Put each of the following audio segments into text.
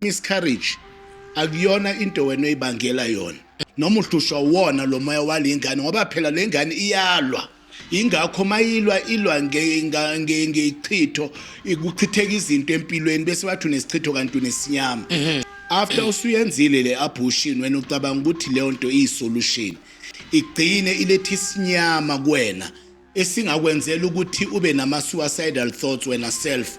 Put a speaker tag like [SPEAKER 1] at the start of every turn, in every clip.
[SPEAKER 1] miscarriage akuyona into wena oyibangela yona noma uhlushwa wona lo moya wale ngane ngoba phela le ngane iyalwa ingakho mayilwa ilwa ngechitho ikuchitheka izinto empilweni bese wathi unesichitho kanti unesinyama mhm. after usuyenzile le abortion wena ucabanga ukuthi leyo nto iyisolution igcine ilethe isinyama kuwena esingakwenzela ukuthi ube nama suicidal thoughts wena self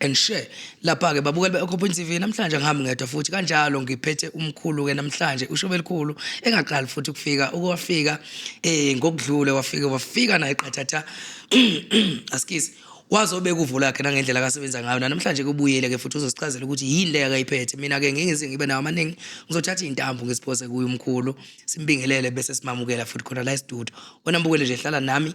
[SPEAKER 2] and share lapha ke babukeli be-occupant tv namhlanje angihambi ngedwa futhi kanjalo ngiphethe umkhulu-ke namhlanje ushobe elikhulu engaqali futhi ukufika ukuwafika um eh, ngokudlule wafike wafika naye qathatha askies wazobeka uvo lakhe nangendlela akasebenza ngayo nanamhlanje kubuyele-ke futhi uzosichazela ukuthi yini leyo akayiphethe mina-ke ngingize ngibe nawo amaningi ngizothatha iy'ntambo ngisiphose kuye umkhulu simbingelele bese simamukela futhi khona la estudio wena mbukele nje hlala nami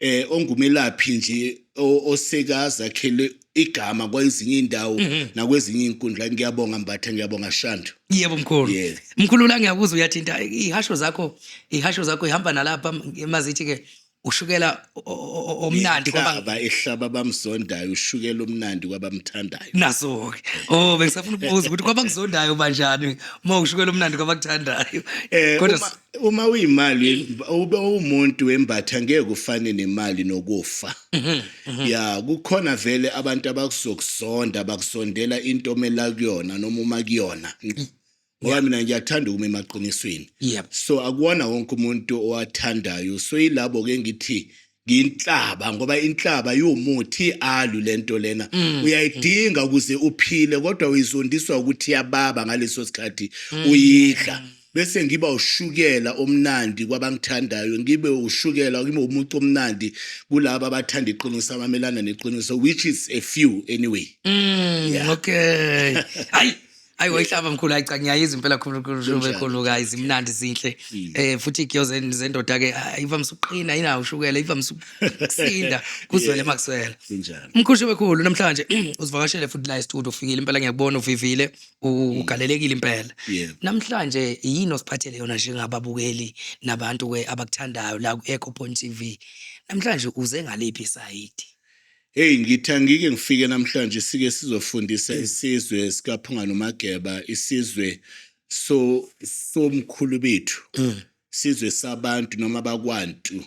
[SPEAKER 1] eh ongumelaphi nje osekazakhele igama kwezinye indawo mhm. nakwezinye inkundla ngiyabonga mbatha ngiyabonga shandu yebo mkhulu yeah.
[SPEAKER 2] mkhulu la ngiyakuzwa uyathinta ihasho zakho ihasho zakho ihamba nalapha mazithi ke ushukela omnandi kwaba ehlaba
[SPEAKER 1] bamzondayo ushukela omnandi kwabamthandayo naso ke
[SPEAKER 2] oh bengisafuna ukubuza ukuthi kwabakuzondayo banjani uma ushukela omnandi kwabakuthandayo eh, kodwa
[SPEAKER 1] uma uyimali ube umuntu wembatha ngeke ufane nemali nokufa mhm, mhm. ya kukhona vele abantu abakuzokuzonda abakusondela into omela kuyona noma uma kuyona ngoba mina ngiyathanda ukuma emaqinisweni so akuwona wonke umuntu owathandayo so yilabo ke ngithi nginhlaba ngoba inhlaba iwumuthi alu lento lena mm. uyayidinga ukuze uphile kodwa uyizondiswa ukuthi yababa ngaleso sikhathi mm. uyidla bese ngiba ushukela omnandi kwabangithandayo ngibe ushukela ngibe umuntu omnandi kulabo abathanda iqiniso abamelana neqiniso which is a few anyway mm, yeah.
[SPEAKER 2] okay hayi ayi wayihlaba mkhulu hayi cha ngiyayizwa impela khulukhulukhulukhuluka izimnandi zinhle Mm. eh futhi igiyo zen- zendoda ke ah, ivamise ukuqina inawo ushukela ivamise ukusinda kuzwele makuswela Kunjalo. umkhushe wekhulu namhlanje usivakashele futhi la estudio ufikile impela ngiyakubona uvivile u- ugalelekile impela Mm. Yeah. namhlanje yini osiphathele yona njengababukeli nabantu ke abakuthandayo la ku-eco point tv namhlanje uze ngaliphi isayidi Hey
[SPEAKER 1] ngithi angike ngifike namhlanje sike sizofundisa isizwe sikaphunga nomageba isizwe so somkhulu bethu mm. sizwe sabantu noma bakwantu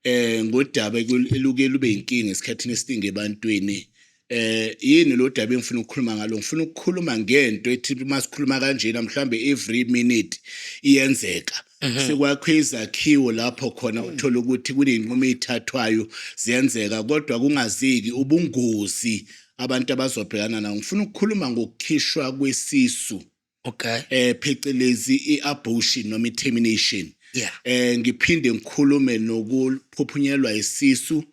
[SPEAKER 1] eh ngodaba eluke lube inkinga esikhathini esiningi ebantwini eh yini lo daba engifuna ukukhuluma ngalo ngifuna ukukhuluma ngento ethi uma sikhuluma kanjena mhlambe every minute iyenzeka Mhm. sekwakhiwe izakhiwo lapho khona uthola ukuthi kuney'nqumo ey'thathwayo ziyenzeka kodwa kungazeki ubungozi abantu abazobhekana nawo ngifuna ukukhuluma ngokukhishwa kwesisu okay eh phecelezi i-abortion noma i-termination yeah eh ngiphinde ngikhulume nokuphuphunyelwa isisu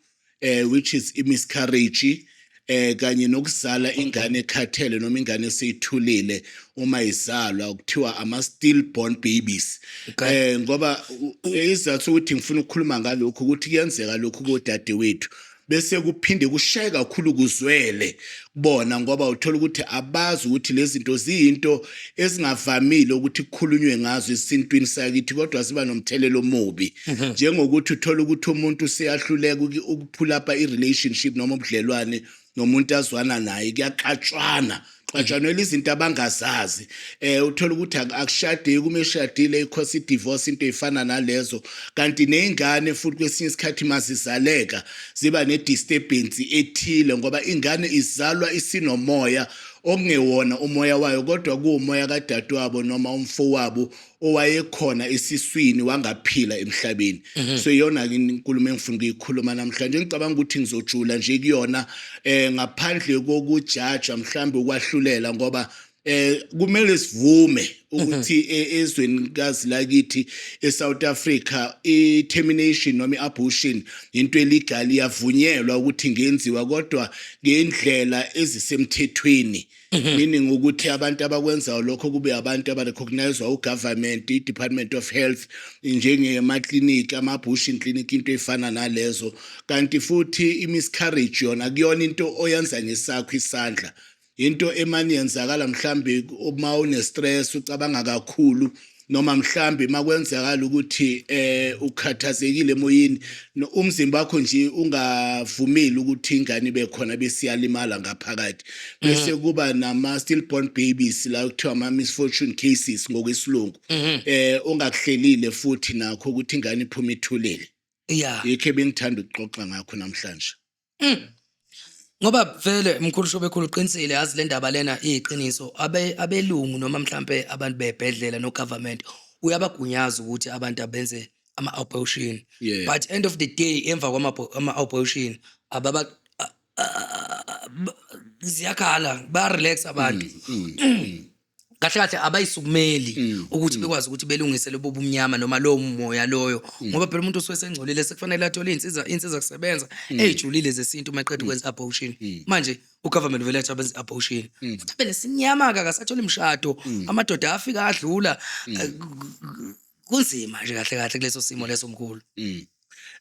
[SPEAKER 1] eh which is imiscarriage eh kanye nokuzala ingane ekhathele noma ingane eseyithulile uma izalwa kuthiwa ama stillborn babies eh ngoba izathu ukuthi ngifuna ukukhuluma ngalokho ukuthi kuyenzeka lokho kodade wethu bese kuphinde kushaye kakhulu kuzwele bona ngoba uthola ukuthi abazi ukuthi lezi zinto ziyinto ezingavamile ukuthi kukhulunywe ngazo esintwini sakithi kodwa ziba nomthelelo omubi mhm. njengokuthi uthola ukuthi umuntu useyahluleka ukuphulapa i-relationship noma ubudlelwane nomuntu azwana naye kuyaxatshwana xatshanwela izinto abangazazi eh uthola ukuthi akushadeki uma eshadile ikhosi idivorce into efana nalezo kanti nezingane futhi kwesinye isikhathi mazizaleka ziba nedisturbance ethile ngoba ingane izalwa isinomoya okungewona umoya wayo kodwa kuwumoya kadadewabo noma umfowabo owayekhona esiswini wangaphila emhlabeni mhm. so iyona inkulumo engifuna ukuyikhuluma namhlanje ngicabanga ukuthi ngizojula nje kuyona um ngaphandle kokujaja mhlawumbe ukwahlulela ngoba eh kumele sivume ukuthi mhm. e, ezweni kazi lakithi eSouth Africa i-termination noma i-abortion into illegal iyavunyelwa ukuthi ngenziwa kodwa ngendlela ezisemthethweni mhm. meaning ukuthi abantu abakwenzayo lokho kube abantu abarecognizwa ugovernment i-department of health njengemaklinikhi ama-abortion clinic into efana nalezo kanti futhi i-miscarriage yona kuyona into oyenza ngesakho isandla Yinto emane yenzakala mhlambe uma une stress ucabanga kakhulu noma mhlambe makwenzakala ukuthi eh ukhathazekile emoyeni umzimba wakho nje ungavumeli ukuthi ingane ibe khona bese iyalimala ngaphakathi mhm. bese kuba nama stillborn babies la kuthiwa ama misfortune cases ngokwesilungu mhm. eh ongakuhlelile futhi nakho ukuthi ingane iphuma ithulele yeah yikho bengithanda ukuxoxa ngakho namhlanje
[SPEAKER 2] Mm. Ngoba vele mkhulu shobekhulu uqinisile yazi le ndaba lena iyiqiniso abe abelungu noma mhlampe abantu bebhedlela no government uyabagunyaza ukuthi abantu abenze ama abortion Yeah. but end of the day emva kwama ama abortion ababa a- a- a- ba- ziyakhala ba relax abantu Mm, mm, mm. kahle kahle abayisukumeli mm. ukuthi mm. bekwazi ukuthi belungise lobo bumnyama noma lowo moya loyo mm. ngoba phela umuntu usuke sengcolile sekufanele athole insiza insiza kusebenza ezijulile zesintu maqedwe kwenza abortion manje ugovernment vele athi abenza abortion futhi phela sinyama ka kasathole imshado amadoda afika adlula eh, kunzima nje kahle kahle kuleso simo leso mkhulu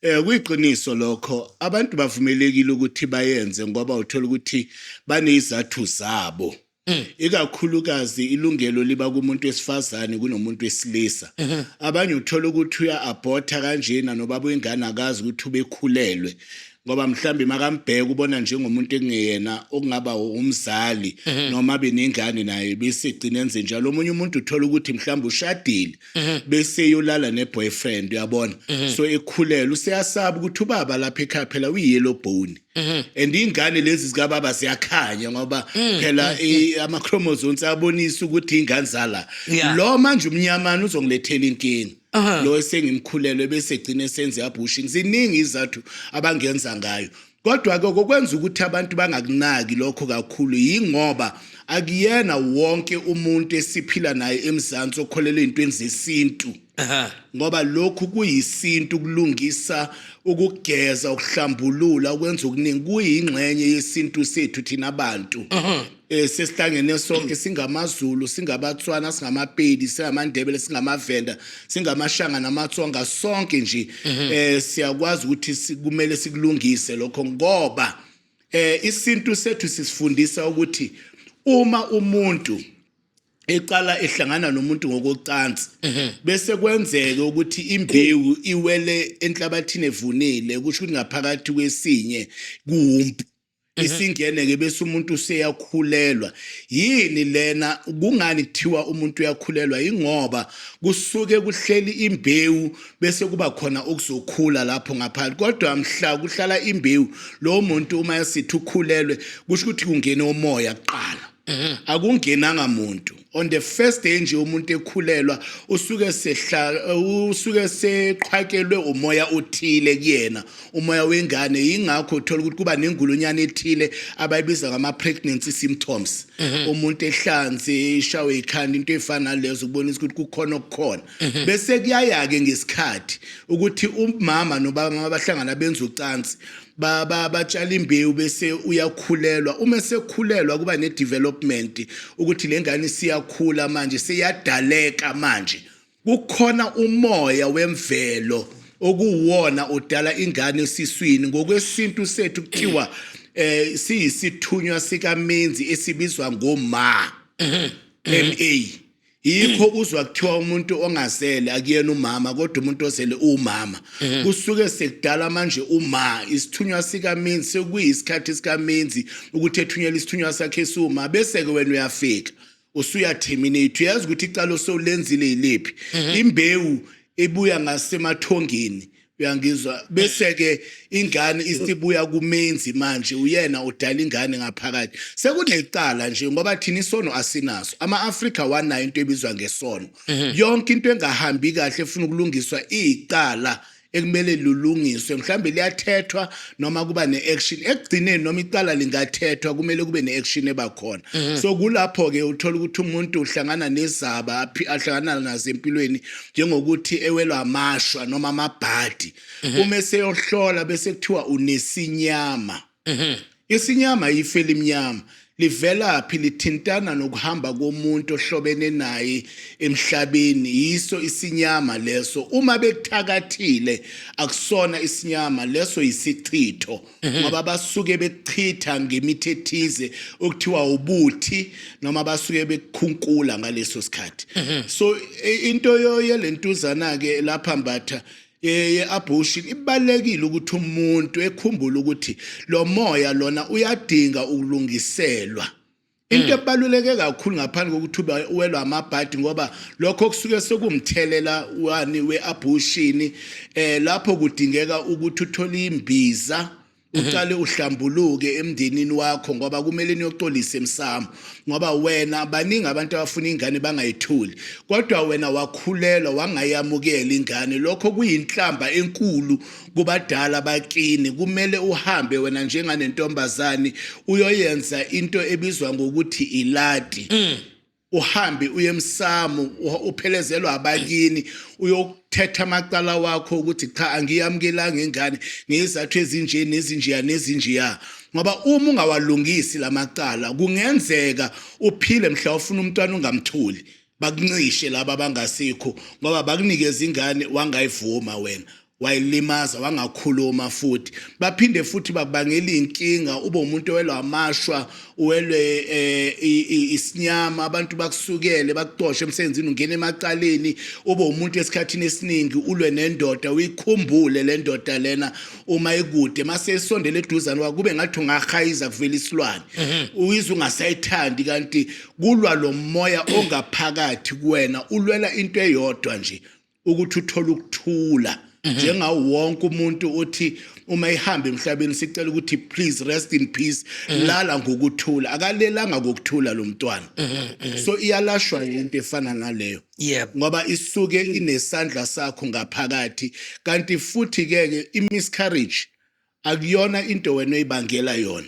[SPEAKER 2] Eh
[SPEAKER 1] kuyiqiniso lokho abantu bavumelekile ukuthi bayenze ngoba uthola ukuthi banezathu zabo Mm. ikakhulukazi ilungelo liba kumuntu wesifazane kunomuntu wesilisa mm-hmm. abanye uthola ukuthi uya-abhotha kanjena nobaba uyingane akazi ukuthi ubekhulelwe ngoba mhlawumbe makambheka ubona njengomuntu ekungeyena okungaba umzali mm-hmm. noma abe nengane naye bese egcina enze njalo omunye umuntu uthola ukuthi mhlawumbe ushadile mm-hmm. bese eyolala ne-boyfriend uyabona so ekhulelwe useyasaba ukuthi ubaba lapha ekhaya phela uyi-yellow bone Mhm. and ingane lezi zikababa ziyakhanya ngoba Mm, phela i- ama-chromosomes abonisa ukuthi ingane zala Yeah. lo manje umnyamana uzongilethela inkinga Aha. lo esengimkhulelwe bese gcine senze abortion ziningi izathu abangenza ngayo kodwa ke kokwenza ukuthi abantu bangakunaki lokho kakhulu yingoba akuyena wonke umuntu esiphila naye emzansi okholelwa ey'ntweni zesintu ngoba lokhu kuyisintu kulungisa ukugeza ukuhlambulula ukwenza okuningi kuyingxenye yesintu sethu thina bantu um sesihlangene sonke singamazulu singabatswana singamapedi singamandebele singamavenda singamashanga namatsonga sonke nje um siyakwazi ukuthi kumele sikulungise lokho ngoba um isintu sethu sisifundisa ukuthi uma umuntu eqala ehlangana nomuntu ngokocansi mhm. bese kwenzeke ukuthi imbewu iwele enhlabathini evunile kusho ukuthi ngaphakathi kwesinye kuwumpu mhm. isingene ke bese umuntu useyakhulelwa yini lena kungani kuthiwa umuntu uyakhulelwa ingoba kusuke kuhleli imbewu bese kuba khona okuzokhula lapho ngaphandle kodwa mhla kuhlala imbewu lo muntu uma esithi ukhulelwe kusho ukuthi kungene umoya kuqala akungenanga muntu on the first day nje umuntu ekhulelwa usuke sehla usuke seqhwakelwe umoya othile kuyena umoya wengane yingakho uthola ukuthi kuba nengulunyana ethile abayibiza ngama pregnancy symptoms mhm. umuntu ehlanze ishawe ikhanda into efana lezo ukubonisa ukuthi kukhona okukhona mhm. bese kuyayake ngesikhathi ukuthi umama nobaba abahlangana benza ucansi baba batshala imbewu bese uyakhulelwa uma esekhulelwa kuba ne-development ukuthi le ngane isiyakhula manje seyadaleka manje kukhona umoya wemvelo okuwona odala ingane esiswini ngokwesintu sethu kuthiwa eh siyisithunywa sikamenzi esibizwa ngoma MA yikho uzwa kuthiwa umuntu ongazele akuyena umama kodwa umuntu ozele uwumama mhm. kusuke sekudala manje uma isithunywa sikaminzi sekuyisikhathi sikaminzi ukuthi ethunyela isithunywa sakhe esiwuma bese-ke wena uyafika usuyaterminate uyazi ukuthi icala osolenzile yiliphi mhm. imbewu ebuya ngasemathongeni uyangizwa bese ke ingane isibuya kumenzi manje uyena udala ingane ngaphakathi sekunecala nje ngoba thina isono asinaso ama-afrika wanayo into ebizwa ngesono mhm. yonke into engahambi kahle efuna ukulungiswa iyicala ekumele lulungiswe mhlawumbe liyathethwa noma kuba ne-action ekugcineni noma icala lingathethwa kumele kube ne-action ebakhona mhm. so kulapho-ke uthola ukuthi umuntu uhlangana nezaba ahlangana nazo empilweni njengokuthi ewelwa amashwa noma amabhadi mhm. uma eseyohlola bese kuthiwa unesinyama mhm. isinyama yife elimnyama livela phi lithintana nokuhamba komuntu ohlobene naye emhlabeni yiso isinyama leso uma bekuthakathile akusona isinyama leso yisichitho Mhm. ngoba basuke bekuchitha ngemithi ethize okuthiwa ubuthi noma basuke bekukhunkula ngaleso sikhathi mhm. so e, into yoye lentuzana ke lapha mbatha ye-abortion ibalekile ukuthi umuntu ekhumbule ukuthi lo moya lona uyadinga ukulungiselwa into mm. ebaluleke kakhulu ngaphandle kokuthi ube uwelwa amabhadi ngoba lokho kusuke sekumthelela wani we-abushini eh lapho kudingeka ukuthi uthole imbiza mhm. uqale uhlambuluke emndenini wakho ngoba kumele niyoxolisa emsamo ngoba wena baningi abantu abafuna ingane bangayithuli kodwa wena wakhulelwa wangayamukela ingane lokho kuyinhlamba enkulu kubadala bakini kumele uhambe wena njenganentombazane uyoyenza into ebizwa ngokuthi ilati mm. uhambe uye emsamo uphelezelwa abakini uyokuthetha amacala wakho ukuthi cha angiyamukelanga ingane ngezathu ezinje nezinjeya nezinjeya ngoba uma ungawalungisi lamacala kungenzeka uphile mhla ufuna umntwana ungamtholi bakuncishe laba abangasikho ngoba bakunikeza ingane wangayivuma wena wayilimaza wangakhuluma futhi baphinde futhi bakubangela inkinga ube umuntu owelwa amashwa uwelwe eh, isinyama abantu bakusukele bakuxoshe emsebenzini ungena emacaleni ube umuntu esikhathini esiningi ulwe nendoda uyikhumbule le ndoda lena uma ikude mase isondele eduzane wakube ngathi ungahayiza kuvela isilwane mhm. uyizwe ungasayithandi kanti Kulwa lo moya ongaphakathi kuwena ulwela into eyodwa nje ukuthi uthole ukuthula mhm. njengawo wonke umuntu othi uma ihamba emhlabeni sicela ukuthi please rest in peace mhm. lala ngokuthula akalelanga ngokuthula lo mntwana mhm, so iyalashwa into efana naleyo ngoba isuke inesandla sakho ngaphakathi kanti futhi ke imiscarriage akuyona into wena oyibangela yona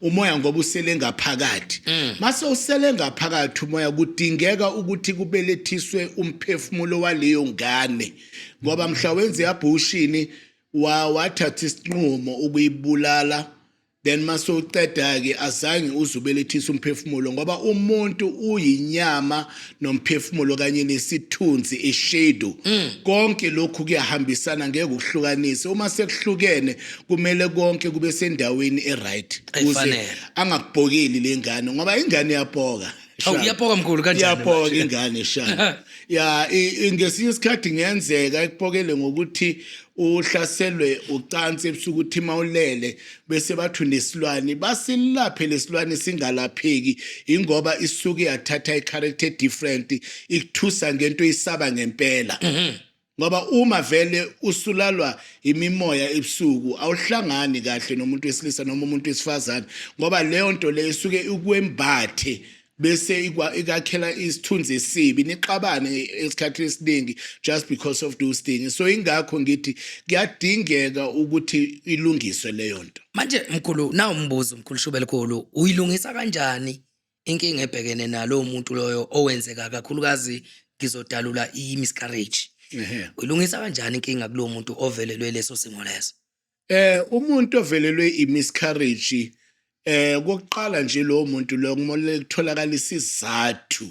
[SPEAKER 1] umoya ngoba usele ngaphakathi mm. mase usele ngaphakathi umoya kudingeka ukuthi kubelethiswe umphefumulo waleyo ngane ngoba mhla wenze yabhushini wa wathatha isinqumo ukuyibulala then mase uqeda ke azange uzubelethisa umphefumulo ngoba umuntu uyinyama nomphefumulo kanye nesithunzi ishedu mm. konke lokhu kuyahambisana ngeke ukuhlukanise uma sekuhlukene kumele konke kube sendaweni eright kuze angakubhokeli lengane ngoba ingane yapoka Awu iyapoka mkhulu
[SPEAKER 2] kanjani? Iyapoka ingane
[SPEAKER 1] shaya. Ya ngesinye isikhathi ngiyenzeka ikupokele ngokuthi uhlaselwe ucansi ebusuku uthima ulele bese bathu nesilwane basilaphe lesilwane singalapheki ingoba isuke yathatha i-character different ikuthusa ngento isaba ngempela mhm. ngoba uma vele usulalwa imimoya ebusuku awuhlangani kahle nomuntu wesilisa noma umuntu wesifazane ngoba leyo nto leyo isuke ikwembathe bese ikakhela isithunzi esibi nixabane esikhathini esiningi just because of those things so ingakho ngithi kuyadingeka ukuthi ilungiswe leyo nto manje mkhulu na
[SPEAKER 2] umbuzo mkhulu shubele khulu uyilungisa kanjani inkinga ebhekene nalo muntu loyo owenzeka kakhulukazi ngizodalula i-miscarriage uyilungisa kanjani inkinga kulo muntu ovelelwe leso simo leso Eh
[SPEAKER 1] umuntu ovelelwe imiscarriage eh kokuqala nje lo muntu lo kumele kutholakala isizathu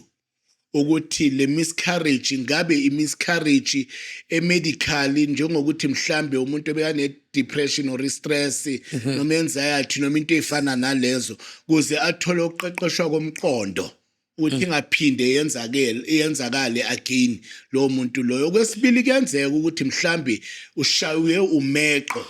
[SPEAKER 1] ukuthi le miscarriage ngabe imiscarriage emedically njengokuthi mhlambe umuntu obekane depression or stress mhm. noma anxiety noma into efana nalezo kuze athole ukuqeqeshwa komqondo ukuthi mm. ingaphinde yenzakele yenzakale again lo muntu loyo kwesibili kuyenzeka ukuthi mhlambi ushaywe umeqo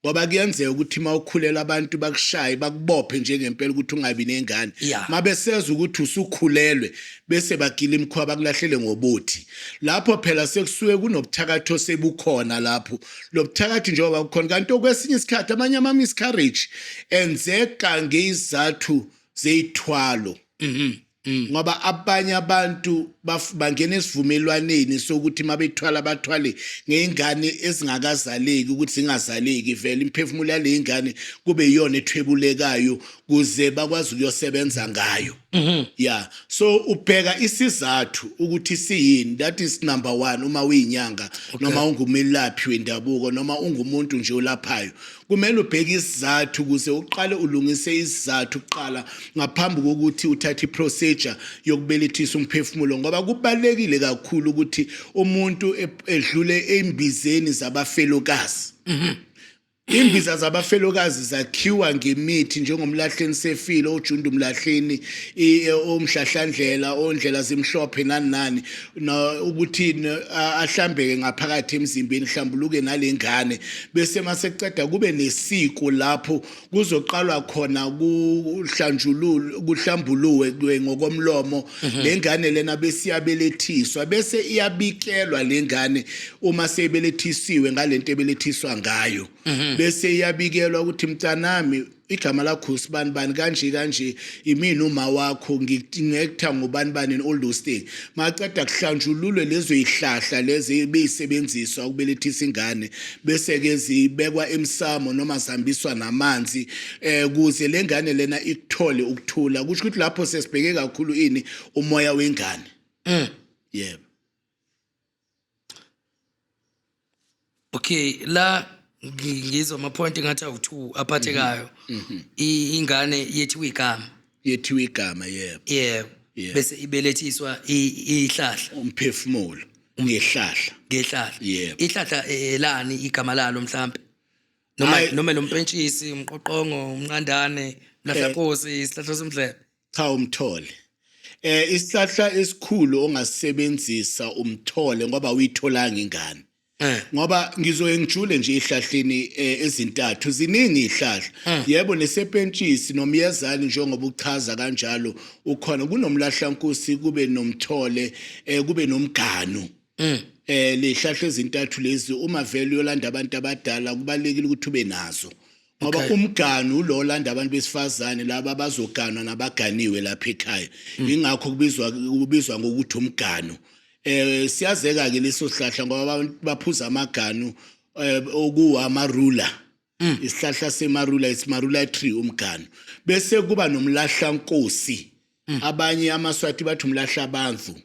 [SPEAKER 1] ngoba kuyenzeka ukuthi uma ukhulela abantu bakushaye bakubophe njengempela ukuthi ungabi nengane uma beseza ukuthi usukhulelwe bese bagila imikhuba bakulahlele ngobuthi lapho phela sekusuke kunobuthakathi osebukhona lapho lo buthakathi njengoba kukhona kanti okwesinye isikhathi amanye ama-miscarriage enzeka ngezizathu zeyithwalo mhm Mm. ngoba abanye abantu bangena esivumelwaneni sokuthi mabethwala bathwale ngeingane ezingakazaleki ukuthi zingazaleki vele imphefumulo yale ingane kube iyona ethwebulekayo kuze bakwazi ukuyosebenza ngayo mm-hmm. yeah so ubheka isizathu ukuthi siyini that is number 1 uma uyinyanga noma ungumelaphi wendabuko noma ungumuntu nje olaphayo Kumele ubheke isizathu ukuze uqale ulungise isizathu kuqala ngaphambi kokuthi uthathe iprocedure yokubelethisa umphefumulo ngoba kubalekile kakhulu ukuthi umuntu edlule embizeni zabafelokazi. Mhm. Imbiza zabafelokazi zakhiwa ngemithi njengomlahleni sefile ojunda umlahleni omhlahlandlela ondlela zimhlophe nani nani no ukuthi ahlambeke ngaphakathi emzimbeni hlambuluke nalengane bese maseqeda kube nesiko lapho kuzoqalwa khona kuhlanjululu kuhlambuluwe ngokomlomo mhm. lengane lena besiyabelethiswa bese iyabikelwa lengane uma sebelethisiwe ngalento ebelethiswa ngayo mhm. bese iyabikelwa ukuthi mntanami igama lakho sibani bani kanje kanje imini uma wakho ngikutha ngubani bani and all those things maqeda kuhlanjululwe lezo ihlahla lezi ebeyisebenziswa ukubelethisa ingane bese ke zibekwa emsamo noma zihambiswa namanzi eh kuze lengane lena ikuthole ukuthula kusho ukuthi lapho sesibheke kakhulu ini umoya wengane mm yebo
[SPEAKER 2] okay la ngi- ngizwa ama-point engathi awu-two aphathekayo Mhm. I- ingane yethiwa igama yethiwa igama yebo yebo
[SPEAKER 1] Yeah. bese
[SPEAKER 2] ibelethiswa i- ihlahla umphefumulo
[SPEAKER 1] ngehlahla ngehlahla Yebo. ihlahla eh,
[SPEAKER 2] elani igama lalo mhlampe noma Hhayi. noma lompentshisi umqoqongo umnqandane mlahlakosi isihlahla somdlebe Cha
[SPEAKER 1] umthole. Eh isihlahla esikhulu ongasebenzisa umthole ngoba uyitholanga ingane. Eh. Ngoba ngizoye ngijule nje ihlahleni eh, ezintathu ziningi ihlahla. Eh. Yebo nesepentshisi nomyezali njengoba uchaza kanjalo ukhona kunomlahlankusi kube nomthole eh, kube nomganu. Mm. Eh lehlahla ezintathu lezi uma vele uyolanda abantu abadala kubalekile ukuthi ube nazo. ngoba okay. umgani ulo olanda abantu besifazane laba bazoganwa nabaganiwe lapha ekhaya mm. ingakho kubizwa kubizwa ngokuthi umgano eh siyazeka ke leso sihlahla ngoba baphuza amaganu eh, okuwa amarula mm. isihlahla semarula isimarula tree umgano bese kuba nomlahla nkosi mm. abanye amaswati bathi umlahla abantu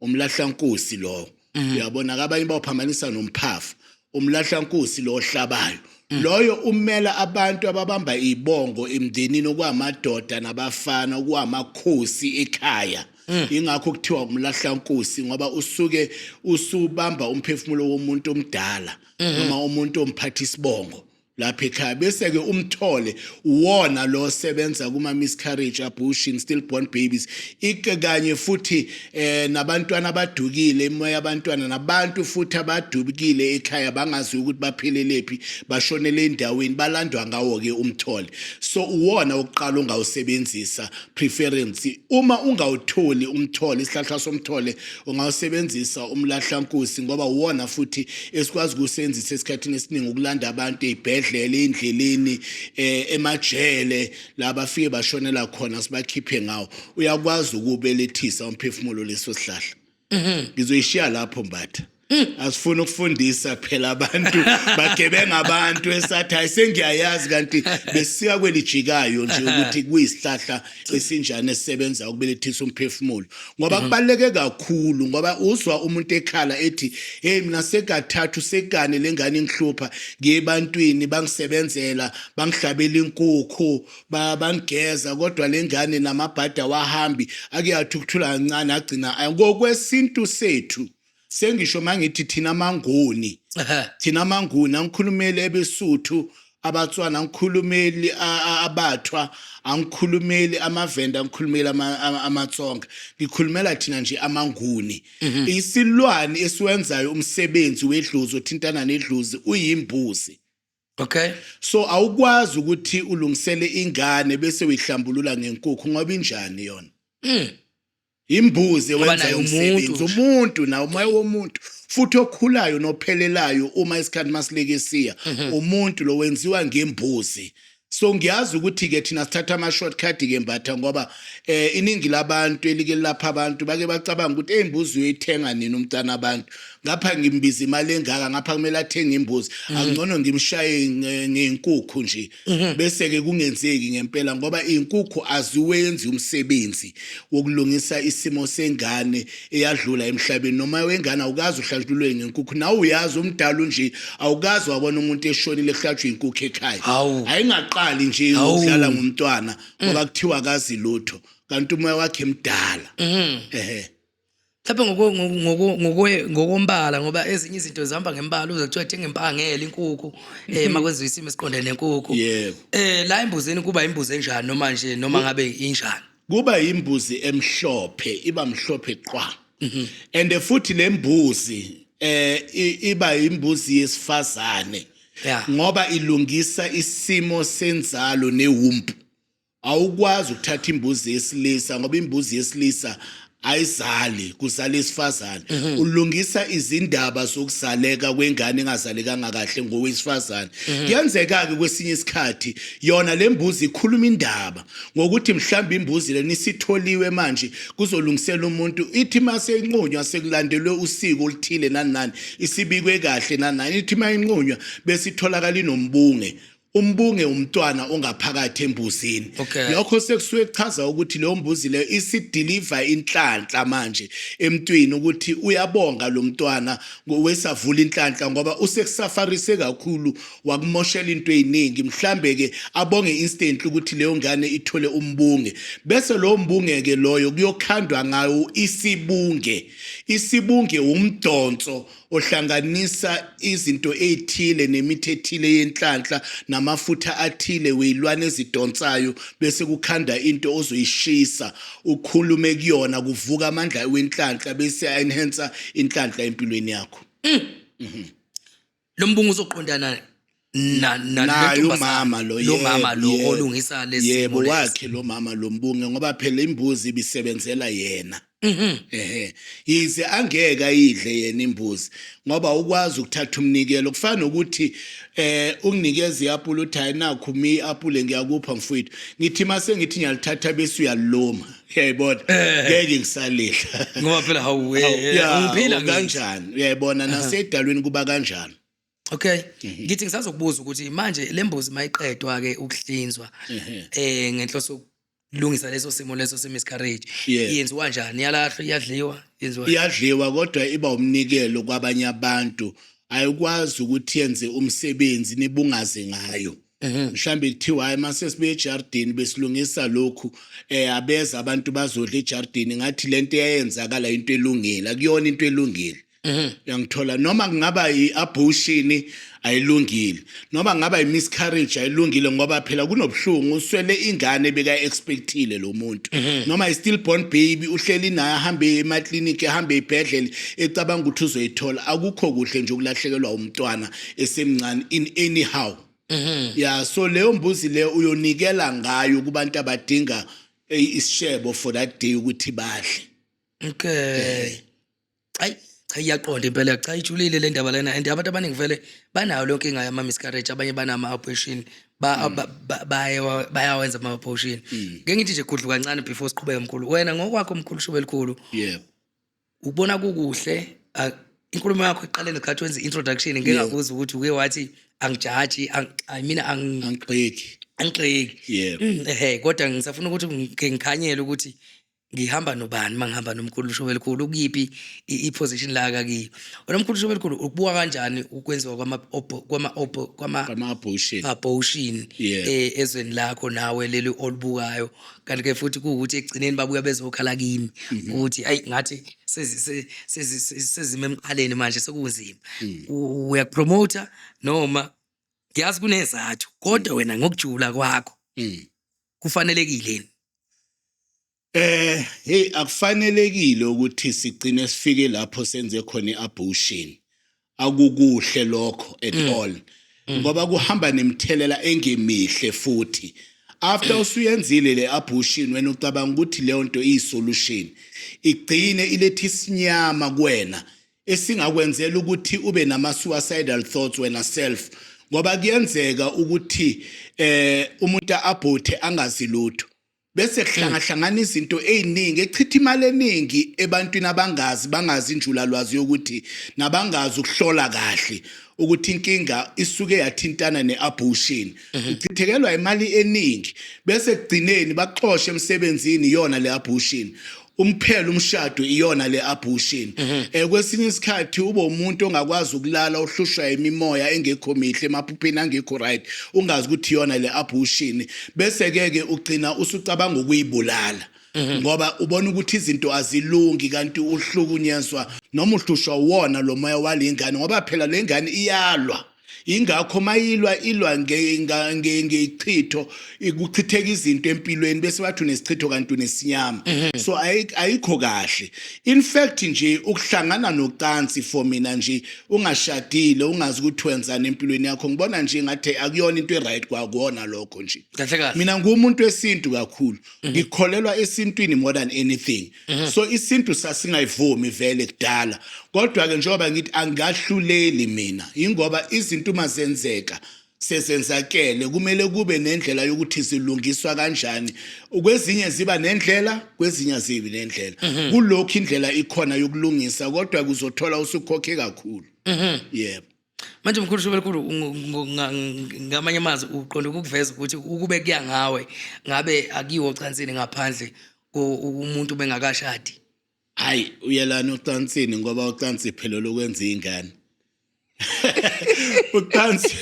[SPEAKER 1] umlahlankosi lowo mhm. uyabona kabanye bawuphambanisa nomphafa umlahlankosi lo ohlabayo mhm. loyo umela abantu ababamba ibongo emndenini okwamadoda nabafana okwamakhosi ekhaya Mm. ingakho kuthiwa umlahla nkosi ngoba usuke usubamba umphefumulo womuntu omdala mm-hmm. noma umuntu omphatha isibongo lapha ekhaya bese-ke umthole uwona lo osebenza kuma-miscarriage abortion stillborn babies ike kanye futhi eh nabantwana abadukile imoya yabantwana nabantu futhi abadubukile ekhaya bangazi ukuthi baphelelephi bashonele endaweni balandwa ngawo-ke umthole so uwona wokuqala ongawusebenzisa preference uma ungawutholi umthole isihlahla somthole ungawusebenzisa umlahlankusi ngoba uwona futhi esikwazi ukusebenzisa esikhathini esiningi ukulanda abantu ezibhedlela endleleni eh, emajele laba fike bashonela khona sibakhiphe ngawo uyakwazi ukubelethisa umphefumulo leso sihlahla mhm. ngizoyishiya lapho mbatha Mm. asifuna ukufundisa phela abantu bagebenga abantu esathi hayi sengiyayazi kanti besiya kwelijikayo nje ukuthi kuyisihlahla esinjani esisebenza ukubelethisa umphefumulo ngoba mm-hmm. kubaluleke kakhulu ngoba uzwa umuntu ekhala ethi hey mina sekathathu sekane lengane ingihlupha ngiyebantwini bangisebenzela bangihlabela inkukhu ba bangigeza kodwa lengane namabhada wahambi ake athi ukuthula kancane agcina aya ngokwesintu sethu sengisho mangithi thina mangoni thina mangoni angikhulumeli ebesuthu abatswana angikhulumeli abathwa angikhulumeli amavenda angikhulumeli amatsonga ngikhulumela thina nje amanguni mhm. isilwane esiwenzayo umsebenzi wedlozi othintana nedlozi uyimbuzi Okay.
[SPEAKER 2] So awukwazi
[SPEAKER 1] ukuthi ulungisele ingane bese uyihlambulula ngenkukhu ngoba injani yona. Mm. Imbuzi wenza umsebenzi umuntu na umoya womuntu futhi okhulayo nophelelayo uma isikhathi masileke siya mhm. umuntu lo wenziwa ngembuzi. So ngiyazi ukuthi ke thina sithatha ama shortcut ke mbatha ngoba eh iningi labantu elike lapha abantu bake bacabanga ukuthi ezimbuzi uyithenga nini umntana abantu ngapha ngimbiza imali engaka ngapha kumele athenge imbuzi mhm. angcono ngimshaye ngenkukhu nje mhm. bese ke kungenzeki ngempela ngoba inkukhu aziwenzi umsebenzi wokulungisa isimo sengane eyadlula emhlabeni noma wengane awukazi uhlatshulwe ngenkukhu nawe uyazi umdala nje awukazi wabona umuntu eshonile ehlatshwe inkukhu ekhaya ayingaqali nje ukudlala ngomntwana ngoba mm. kuthiwa akazi lutho kanti umoya wakhe mdala mhm. ehe
[SPEAKER 2] mhlawumbe ngoko- ngoko- ngoko- ngokwe- ngokombala ngoba ezinye izinto zihamba ngembala uze kuthiwa thenga impangele inkukhu um makwenziwa isimo esiqondene nenkukhu Yebo. um la embuzini kuba imbuzi enjani noma nje noma ngabe injani kuba imbuzi
[SPEAKER 1] emhlophe iba mhlophe qwa and futhi lembuzi eh i- iba imbuzi yesifazane Yeah. ngoba ilungisa isimo senzalo newumpu Awukwazi ukuthatha imbuzi yesilisa ngoba imbuzi yesilisa ayizali kuzala isifazane mhm. ulungisa izindaba zokuzaleka kwengane engazalekanga kahle ngowesifazane mhm. kuyenzeka ke kwesinye isikhathi yona lembuzi ikhuluma indaba ngokuthi mhlawumbe imbuzi leni sitholiwe manje kuzolungisela umuntu ithi mase inqunywa sekulandelwe usiko oluthile nani nani isibikwe kahle nani nani ithi mayinqunywa bese itholakala inombunge umbunge umntwana ongaphakathi embuzini okay. lokho sekusuke kuchaza ukuthi leyo mbuzi leyo isidiliva inhlanhla manje emntwini ukuthi uyabonga lo mntwana wesavula inhlanhla ngoba usekusafarise kakhulu wakumoshela into eziningi mhlambe-ke abonge instantly ukuthi leyo ngane ithole umbunge bese lowo mbunge-ke loyo kuyokhandwa ngayo isibunge isibunge wumdonso ohlanganisa izinto ezithile nemithi ethile yenhlanhla namafutha athile weyilwane ezidonsayo bese kukhanda into ozoyishisa ukhulume kuyona kuvuka amandla wenhlanhla bese enhancer inhlanhla empilweni yakho mm. mm-hmm.
[SPEAKER 2] lo mbungu uzoqondana Na- na- naye
[SPEAKER 1] lentombazane, umama lo lo mama yebo, lo yebo. olungisa
[SPEAKER 2] lesi yebo simo lesi. wakhe lo
[SPEAKER 1] mama lo mbunge ngoba phela imbuzi ibisebenzela yena Mhm. ehe yize angeke ayidle yena imbuzi ngoba ukwazi ukuthatha umnikelo kufana nokuthi eh unginikeza iapula uthi hayi nakhu mi apule ngiyakupha mfowethu ngithi mase ngithi ngiyalithatha bese uyaliluma uyayibona ngeke ngisalidla ngoba phela hawu eh, Awu,
[SPEAKER 2] eh, ya, ngiphila ngithi. kanjani
[SPEAKER 1] uyayibona nasedalweni kuba kanjani Okay. Mhm.
[SPEAKER 2] Ngithi ngisazokubuza ukuthi manje lembuzi mayiqedwa ke ukuhlinzwa mhm. eh ngenhloso lungisa leso simo leso se miscarriage yenziwa kanjani iyalahlwa iyadliwa yenziwa iyadliwa
[SPEAKER 1] kodwa iba umnikelo kwabanye abantu ayikwazi ukuthi yenze umsebenzi nibungaze ngayo mhm. mhlambe kuthiwa hayi mase sibuye ejardini besilungisa lokhu eh abeza abantu bazodla ejardini ngathi lento eyenzakala into elungile akuyona into elungile Mhm. uyangithola noma kungaba i-abortion ayilungile noma kungaba i-miscarriage ayilungile ngoba phela kunobuhlungu uswele ingane beka-expectile lo muntu Mhm. noma i-stillborn baby uhleli naye ahambe emakliniki ahambe ey'bhedlela ecabanga ukuthi uzoyithola akukho kuhle nje ukulahlekelwa umntwana esemncane in anyhow Mhm. ya so leyo mbuzi leyo uyonikela ngayo kubantu abadinga eh, isishebo for that day ukuthi badle okay
[SPEAKER 2] ayi cha iyaqonda impela cha ijulile le ndaba lena and abantu abaningi vele banayo leyo nkinga yama-miscarriage abanye banama-abortion ba- ba- ba- bayawa- bayawenza ama-abortion ngeke ngithi nje gudlu kancane before siqhubeke mkhulu wena ngokwakho mkhulu shube elikhulu yebo ubona kukuhle ah, inkulumo yakho iqale ngesikhathi wenza i-introduction ngeke Yeah. ngakuza ukuthi uke wathi angijaji ang- I mean ang- angigxeki
[SPEAKER 1] angigxeki yebo
[SPEAKER 2] Mm, ehe kodwa ngisafuna ukuthi ngike ngikhanyele ukuthi ngihamba nobani uma ngihamba nomkhulu lishobela elikhulu ukuyiphi i-position la kakiyo wena mkhulu lishobela elikhulu ukubuka kanjani ukwenziwa kwama-abortion eh, ezweni lakho nawe leli olubukayo kanti ke futhi kuwukuthi ekugcineni babuya bezokhala kimi mhm. ukuthi ayi ngathi sezima emqaleni manje sekunzima mm. uyakupromota noma ngiyazi kunezathu kodwa mm. wena ngokujula kwakho mm. kufanelekile
[SPEAKER 1] yini Eh hey akufanelekile ukuthi sigcine sifike lapho senze khona iabortion akukuhle lokho at mm. all mm. ngoba kuhamba nemthelela engemihle futhi after usuyenzile le abortion wena ucabanga ukuthi leyo nto iyisolution igcine ilethi isinyama kuwena esingakwenzela ukuthi ube nama suicidal thoughts wena self ngoba kuyenzeka ukuthi eh umuntu abhothe angazi lutho bese kuhlangahlangana izinto eziningi echitha imali eningi ebantwini abangazi bangazi injulalwazi yokuthi nabangazi ukuhlola kahle ukuthi inkinga isuke yathintana neabortion mhm. uchithekelwa imali eningi bese kugcineni baxoshe emsebenzini iyona leabortion umphelo umshado iyona le abortion mhm. eh kwesinye isikhathi ube umuntu ongakwazi ukulala uhlushwa imimoya engekho mihle emaphupheni angekho right ungazi ukuthi iyona le abortion bese ke ke ugcina usucabanga ukuyibulala mhm. ngoba ubona ukuthi izinto azilungi kanti uhlukunyezwa noma uhlushwa wona lo moya walengane ngoba phela lengane iyalwa Ingakho mayilwa ilwa ngechitho kuchitheka izinto empilweni bese bathu nesichitho kanti unesinyama mhm. so ayikho kahle in fact nje ukuhlangana nocansi for mina nje ungashadile ungazi ukuthi wenzani empilweni yakho ngibona nje ngathi akuyona into eright kwakuona lokho nje mina ngumuntu wesintu kakhulu mhm. ngikholelwa esintwini more than anything Mhm. so isintu sasingayivumi vele kudala kodwa-ke njengoba ngithi angahluleli mina yingoba izinto uma zenzeka sezenzakele kumele kube nendlela yokuthi zilungiswa kanjani kwezinye ziba nendlela kwezinye azibi nendlela mhm. kulokhu indlela ikhona yokulungisa kodwa kuzothola usukhokhe kakhulu mhm. yebo manje mkhulu
[SPEAKER 2] shobelikhulu ngamanye amazwi uqonda ukukuveza ukuthi ukube kuya ngawe ngabe akiwo ocansini ngaphandle umuntu bengakashadi hayi
[SPEAKER 1] uyelana ocansini ngoba ucansi iphelelo ukwenza ingane ucansi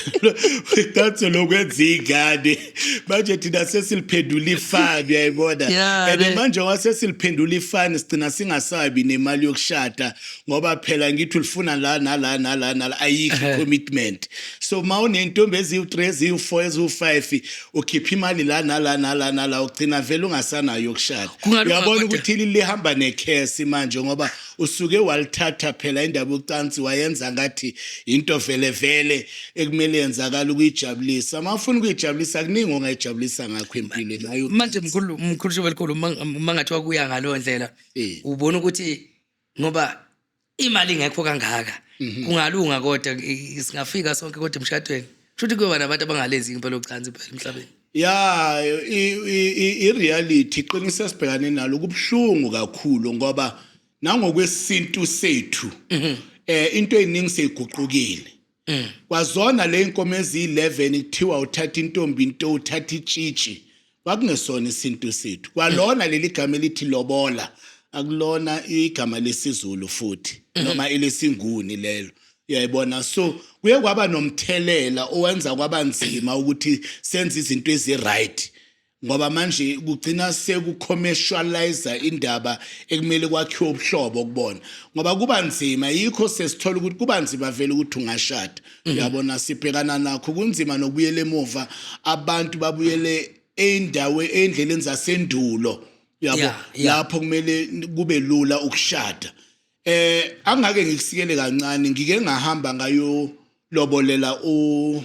[SPEAKER 1] ucansi lokwenza ingane manje thina sesiliphendula ifani uyayibona and manje wasesiliphendula ifani sigcina singasabi nemali yokushada ngoba phela ngithi ulifuna la nala nala nala ayikho commitment so uma unentombi eziwu-3 eziwu-4 eziwu-5 ukhipha imali la nala nala nala ugcina vele ungasanayo yokushada uyabona ukuthi lihamba nekhesi manje ngoba usuke walithatha phela indaba yocansi wayenza ngathi into vele vele ekumele yenzakala ukuyijabulisa uma ufuna ukuyijabulisa kuningi ongayijabulisa ngakho empilweni nayo manje mkhulu mkhulu
[SPEAKER 2] shobelikhulu uma ngathiwa kuya ngaleyo ndlela ubona ukuthi ngoba imali ingekho kangaka mhm. kungalunga kodwa singafika sonke kodwa emshadweni shuthi kuyoba nabantu abangalenzi impela ucansi phela emhlabeni ya
[SPEAKER 1] i-reality iqiniso esibhekane nalo kubuhlungu kakhulu ngoba nangokwesintu sethu mhm. eh into eyiningi seyiguqukile mm. kwazona le nkomo eziyi-11 kuthiwa uthatha intombi into uthatha itshitshi kwakungesona isintu sethu kwalona mm. leli gama elithi lobola akulona igama lesizulu futhi mm. noma elesinguni lelo uyayibona so kuye kwaba nomthelela owenza kwaba nzima ukuthi senze izinto ezi-right ngoba manje kugcina sekucommercialize indaba ekumele kwakhiwe ubuhlobo kubona ngoba kuba nzima yikho sesithola ukuthi kuba nzima vele ukuthi ungashada mhm. uyabona sibhekana nakho kunzima nokubuyela emuva abantu babuyele endawe endleleni zasendulo yabo lapho kumele kube lula ukushada eh angake ngikusikele kancane ngike ngahamba ngayo lobolela u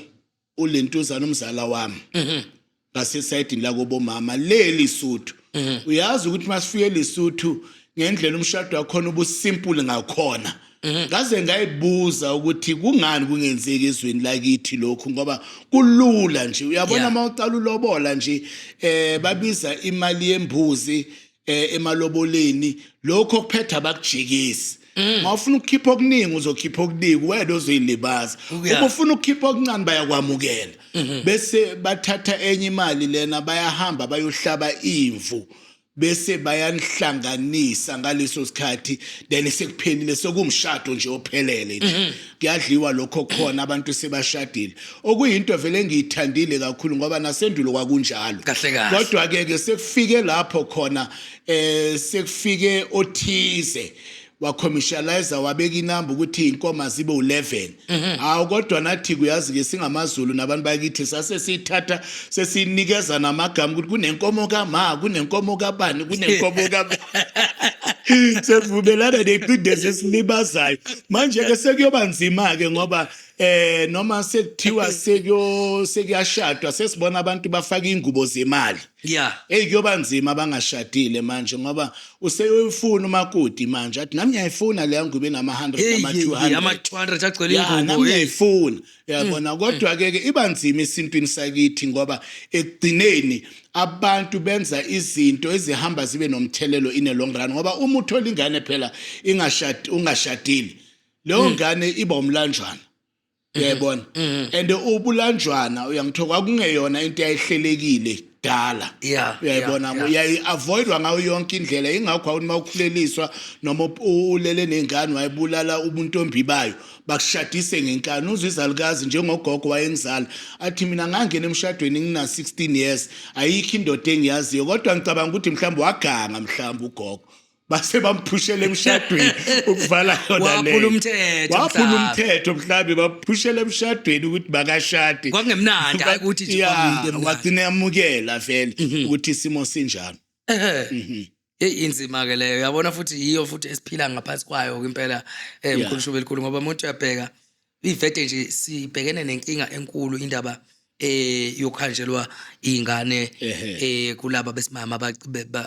[SPEAKER 1] ulentuzana umzala wami mhm. ngasesayidini lakobomama le lisuthu mhm. uyazi ukuthi masifike lisuthu ngendlela umshado wakhona ubusimple ngakhona mhm. ngaze ngayibuza ukuthi kungani kungenzeki ezweni lakithi lokhu ngoba kulula nje uyabona uma uqala ulobola nje eh babiza imali yembuzi eh, emaloboleni lokho kuphetha abakujikisi Mm. mawufuna ukukhipha okuningi uzokhipha okuningi wena ozoyilibaza Ukuya. uma ufuna ukukhipha okuncane bayakwamukela Mm-hmm. bese bathatha enye imali lena bayahamba bayohlaba imvu bese bayanihlanganisa ngaleso sikhathi then sekuphelile sekumshado nje ophelele nje kuyadliwa lokho khona abantu sebashadile okuyinto vele engiyithandile kakhulu ngoba nasendulo kwakunjalo kodwa ke ke sekufike lapho khona eh sekufike othize wakhomishalayiza wabeka inamba ukuthi inkomo azibe u-11 mhm. hawu kodwa nathi kuyazi-ke singamazulu nabantu bakithi sase siyithatha sesinikeza namagama ukuthi kunenkomo kama kunenkomo kabani kunenkomo ka sevumelana neqindezi esilibazayo manje-ke sekuyoba nzima-ke ngoba eh noma sekuthiwa sekuyo sekuyashadwa sesibona abantu bafaka ingubo zemali yeah hey kuyoba nzima abangashadile manje ngoba useyofuna umakoti manje athi nami ngiyayifuna leya ngubo enama 100 nama 200 ama 200 agcwele
[SPEAKER 2] ingubo nami ngiyayifuna
[SPEAKER 1] Yabona kodwa ke ke iba nzima esintwini sakithi ngoba ekugcineni abantu benza izinto ezihamba zibe nomthelelo in a long run ngoba uma uthola ingane phela ingashadi ungashadile leyo ngane iba umlanjwana uyayibona and ubulanjwana uyangithoka kwakungeyona into yayihlelekile dala Yeah, uyayibona yeah, ngo- yeah. uyayi-avoidwa ngayo yonke indlela ingakho awuthi uma ukhuleliswa noma up- u- ulele ney'ngane wayibulala ubuntombi bayo bakushadise ngenkani uzwa izalukazi njengogogo wayengizala athi mina ngangena emshadweni ngina-16 years ayikho indoda engiyaziyo kodwa ngicabanga ukuthi mhlawumbe waganga mhlawumbe ugogo base bamphushela emshadweni ukuvala yona le waphula umthetho waphula umthetho mhlambe baphushela emshadweni ukuthi makashade kwakungemnandi hayi ukuthi
[SPEAKER 2] nje kwamile mnandi wagcina
[SPEAKER 1] yamukela vele mhm. ukuthi isimo sinjalo mhm.
[SPEAKER 2] Hey inzima ke leyo yabona futhi yiyo futhi esiphila ngaphansi kwayo impela emkhulu eh, shube elikhulu ngoba umuntu uyabheka Ivete nje sibhekene nenkinga enkulu indaba eh yokhanjelwa ingane eh kulaba besimama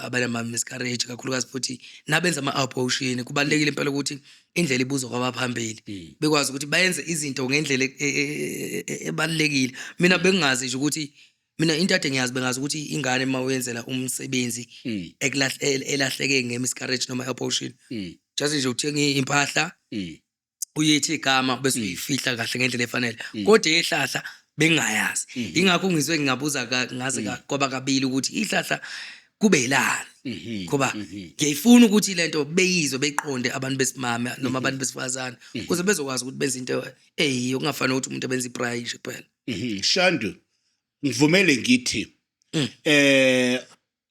[SPEAKER 2] abanama miscarriage kakhulukazi futhi nabenza ama abortion kubalekile impela ukuthi indlela ibuzwa kwabaphambili hmm. bekwazi ukuthi bayenze izinto ngendlela e, e, e, ebalekile mina bengazi nje ukuthi mina into ade ngiyazi bengazi ukuthi ingane uma uyenzela umsebenzi hmm. ekulahleke ngemimiscarriage noma abortion hmm. just nje uthenga impahla uyithi igama bese mm. uyifihla kahle ngendlela efanele mm. kodwa ihlahla bengayazi mm-hmm. ingakho ngizwe ngingabuza ngaze mm. kwaba kabili ukuthi ihlahla kube yilani mm-hmm. ngoba mm-hmm. ngiyayifuna ukuthi le nto beyizwe beyiqonde abantu besimame noma abantu besifazane ukuze bezokwazi ukuthi benze into eyiyo kungafanele ukuthi umuntu abenze iprayi nje kuphela shandu
[SPEAKER 1] ngivumele ngithi eh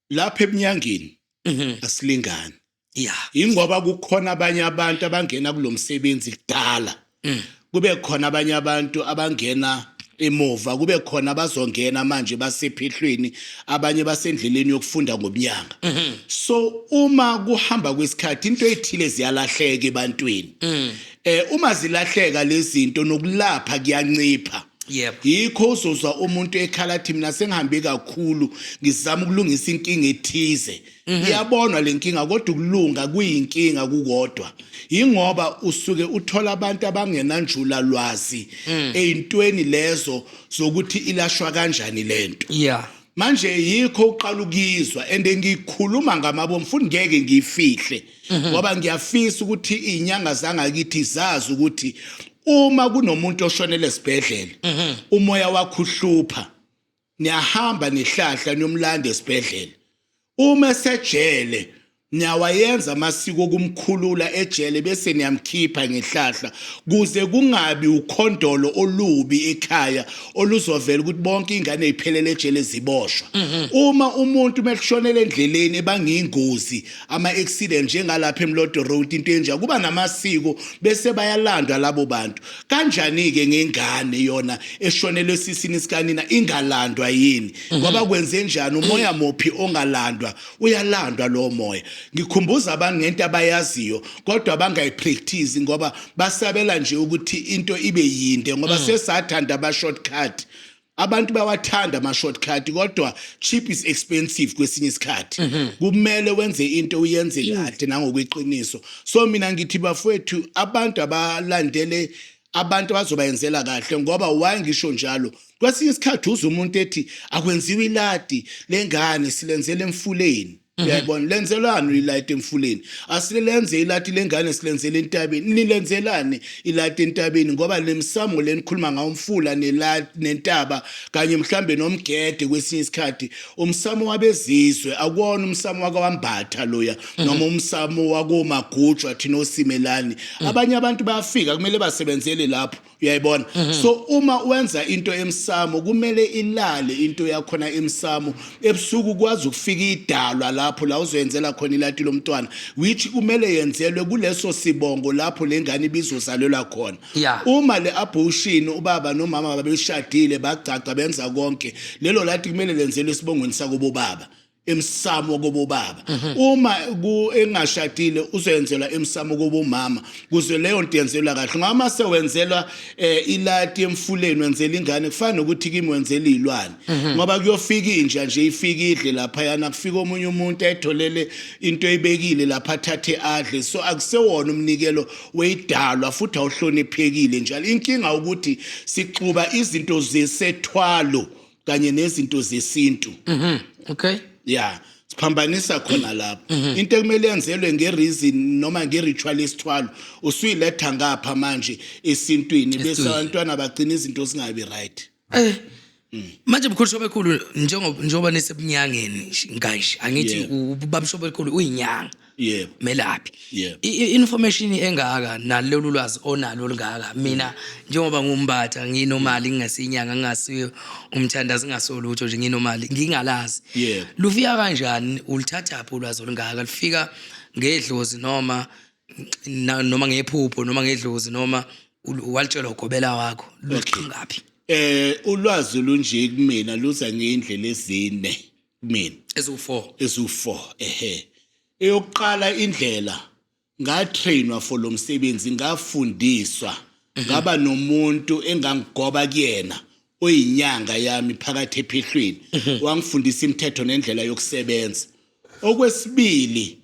[SPEAKER 1] lapha ebunyangeni Mhm. asilingani ya ingoba kukhona abanye abantu abangena kulo msebenzi kudala Mm. kube khona abanye abantu abangena emuva kube khona abazongena manje basephehlweni abanye basendleleni yokufunda ngobunyanga Mhm. so uma kuhamba kwesikhathi into ethile ziyalahleka ebantwini Mm. eh uma zilahleka lezinto nokulapha kuyancipha Yep. Yikho uzozwa umuntu ekhala thi mina sengihambe kakhulu ngizama ukulungisa inkinga ethize. Mhm. Iyabonwa lenkinga kodwa ukulunga kuyinkinga kukodwa. Ingoba usuke uthola abantu abangenanjula lwazi mm. eintweni lezo zokuthi ilashwa kanjani lento. Yeah. manje yikho uqala ukuyizwa and ngikhuluma ngamabo mfuni ngeke ngiyifihle mhm. ngoba ngiyafisa ukuthi izinyanga zangakithi zazi ukuthi uma kunomuntu oshonele esibhedlela mhm. umoya wakho uhlupha niyahamba nehlahla niyomlanda esibhedlela uma esejele niyawayenza amasiko okumkhulula ejele bese niyamkhipha ngehlahla kuze kungabi ukhondolo olubi ekhaya oluzovela ukuthi bonke ingane iphelele ejele ziboshwa mhm. uma umuntu mekushonela endleleni ebangiyingozi ama-accident njengalapha eMlodo Road into enja kuba namasiko bese bayalandwa labo bantu kanjani-ke ngengane yona eshonelwe sisini sikanina ingalandwa yini mhm. ngoba kwenze njani umoya mophi ongalandwa uyalandwa lowo moya ngikhumbuza abantu ngento abayaziyo kodwa bangayipractice ngoba basabela nje ukuthi into ibe yinde ngoba mhm. sesathanda ama-shortcut abantu bawathanda ama shortcut kodwa cheap is expensive kwesinye isikhathi mhm. kumele wenze into uyenze kahle nangokweqiniso so mina ngithi bafowethu abantu abalandele abantu abazobayenzela kahle ngoba why ngisho njalo kwesinye isikhathi uze umuntu ethi akwenziwe iladi lengane silenzele emfuleni Mhm. uyayibona lenzelani uyilayite emfuleni asike lenze ilati lengane silenzele entabeni nilenzelani ilati entabeni ngoba le misamo le nikhuluma ngawo umfula nela- nentaba kanye mhlambe nomgede kwesinye isikhathi umsamo wabezizwe akuwona umsamo wakawambatha loya Mhm. noma umsamo wakomagujwa thina osimelani Mm. abanye abantu bayafika kumele basebenzele lapho uyayibona mhm. so uma wenza into emsamo kumele ilale into yakhona emsamo ebusuku kwazi ukufika idalwa lapho la uzoyenzela khona ilati lomntwana which kumele yenzelwe kuleso sibongo lapho lengane ibizozalelwa khona uma le abortion ubaba nomama babeshadile bagcagca benza konke lelo lati kumele lenzelwe esibongweni sakubo baba emsamo kobobaba uma ku- engashadile uzoyenzelwa emsamo kobomama kuze leyo nto yenzelwa kahle ngoba uma sewenzelwa eh, ilati emfuleni wenzela ingane kufana nokuthi kimi wenzela iy'lwane ngoba kuyofika inja nje ifike idle laphayana kufika omunye umuntu ayitholele into eyibekile lapha athathe adle so akusewona umnikelo weyidalwa futhi awuhloniphekile njalo inkinga ukuthi sixuba izinto zesethwalo kanye nezinto zesintu mhm okay
[SPEAKER 2] yeah
[SPEAKER 1] siphambanisa khona lapho mhm. into ekumele yenzelwe ngereason noma ngeritual isithwalo usuyiletha ngapha manje esintwini bese abantwana bagcina izinto zingabi right eh
[SPEAKER 2] Mm. manje mkhulu shobe khulu njengoba njengoba nisebunyangeni kanje angithi ubaba shobe khulu uyinyanga yebo melaphi
[SPEAKER 1] Yebo.
[SPEAKER 2] I- i-
[SPEAKER 1] information
[SPEAKER 2] engaka nalolu lwazi onalo olungaka mina njengoba ngumbatha nginomali ngingasiyinyanga ngingasiyo umthandazi ngingasolutho nje nginomali ngingalazi Yebo. lufika kanjani ulithathaphi ulwazi olungaka lufika ngedlozi noma na- noma ngephupho noma ngedlozi noma ul- walitshelwa ugobela wakho luqhingaphi eh ulwazi
[SPEAKER 1] lunje kumina luza ngeindlela ezine kumina eziwu-4 eziwu-4 ehe eyokuqala indlela ngatrainwa for lo msebenzi ngafundiswa mhm. ngaba nomuntu engangigoba kuyena oyinyanga yami phakathi ephehlweni mhm. wangifundisa imithetho nendlela yokusebenza okwesibili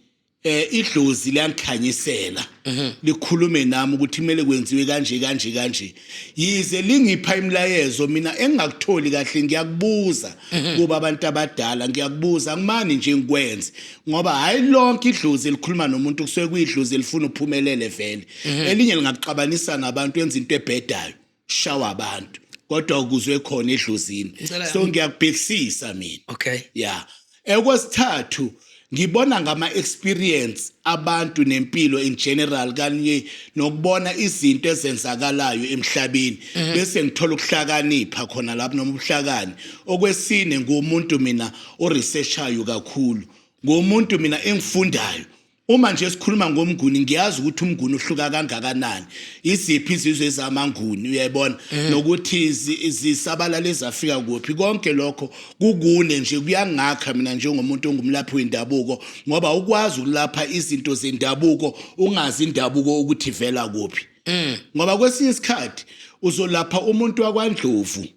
[SPEAKER 1] eh idlozi liyangikhanyisela mhm. likhulume nami ukuthi kumele kwenziwe kanje kanje kanje yize lingipha imilayezo mina engingakutholi kahle ngiyakubuza mhm. kuba abantu abadala ngiyakubuza kumani nje ngikwenze ngoba hayi lonke idlozi elikhuluma nomuntu kusuke kuyidlozi elifuna uphumelele vele mhm. elinye lingakuxabanisa nabantu enza into ebhedayo shawa abantu kodwa ukuzwe khona edlozini so ngiyakubhekisisa mina okay yeah ekwesithathu ngibona ngama experience abantu nempilo in general kanye nokubona izinto ezenzakalayo emhlabeni mhm. bese ngithola ukuhlakanipha khona lapho noma ubuhlakani okwesine ngumuntu mina o researchayo kakhulu ngomuntu mina engifundayo Uma nje sikhuluma ngomnguni ngiyazi ukuthi umnguni uhluka kangakanani iziphi izizwe ezamanguni uyayibona eh. nokuthi zisabalala ezafika kuphi konke lokho kukune nje kuyangakha mina njengomuntu ongumlaphi wendabuko ngoba ukwazi ukulapha izinto zendabuko ungazi indabuko ukuthi vela kuphi eh. ngoba kwesinye isikhathi uzolapha umuntu wakwandlovu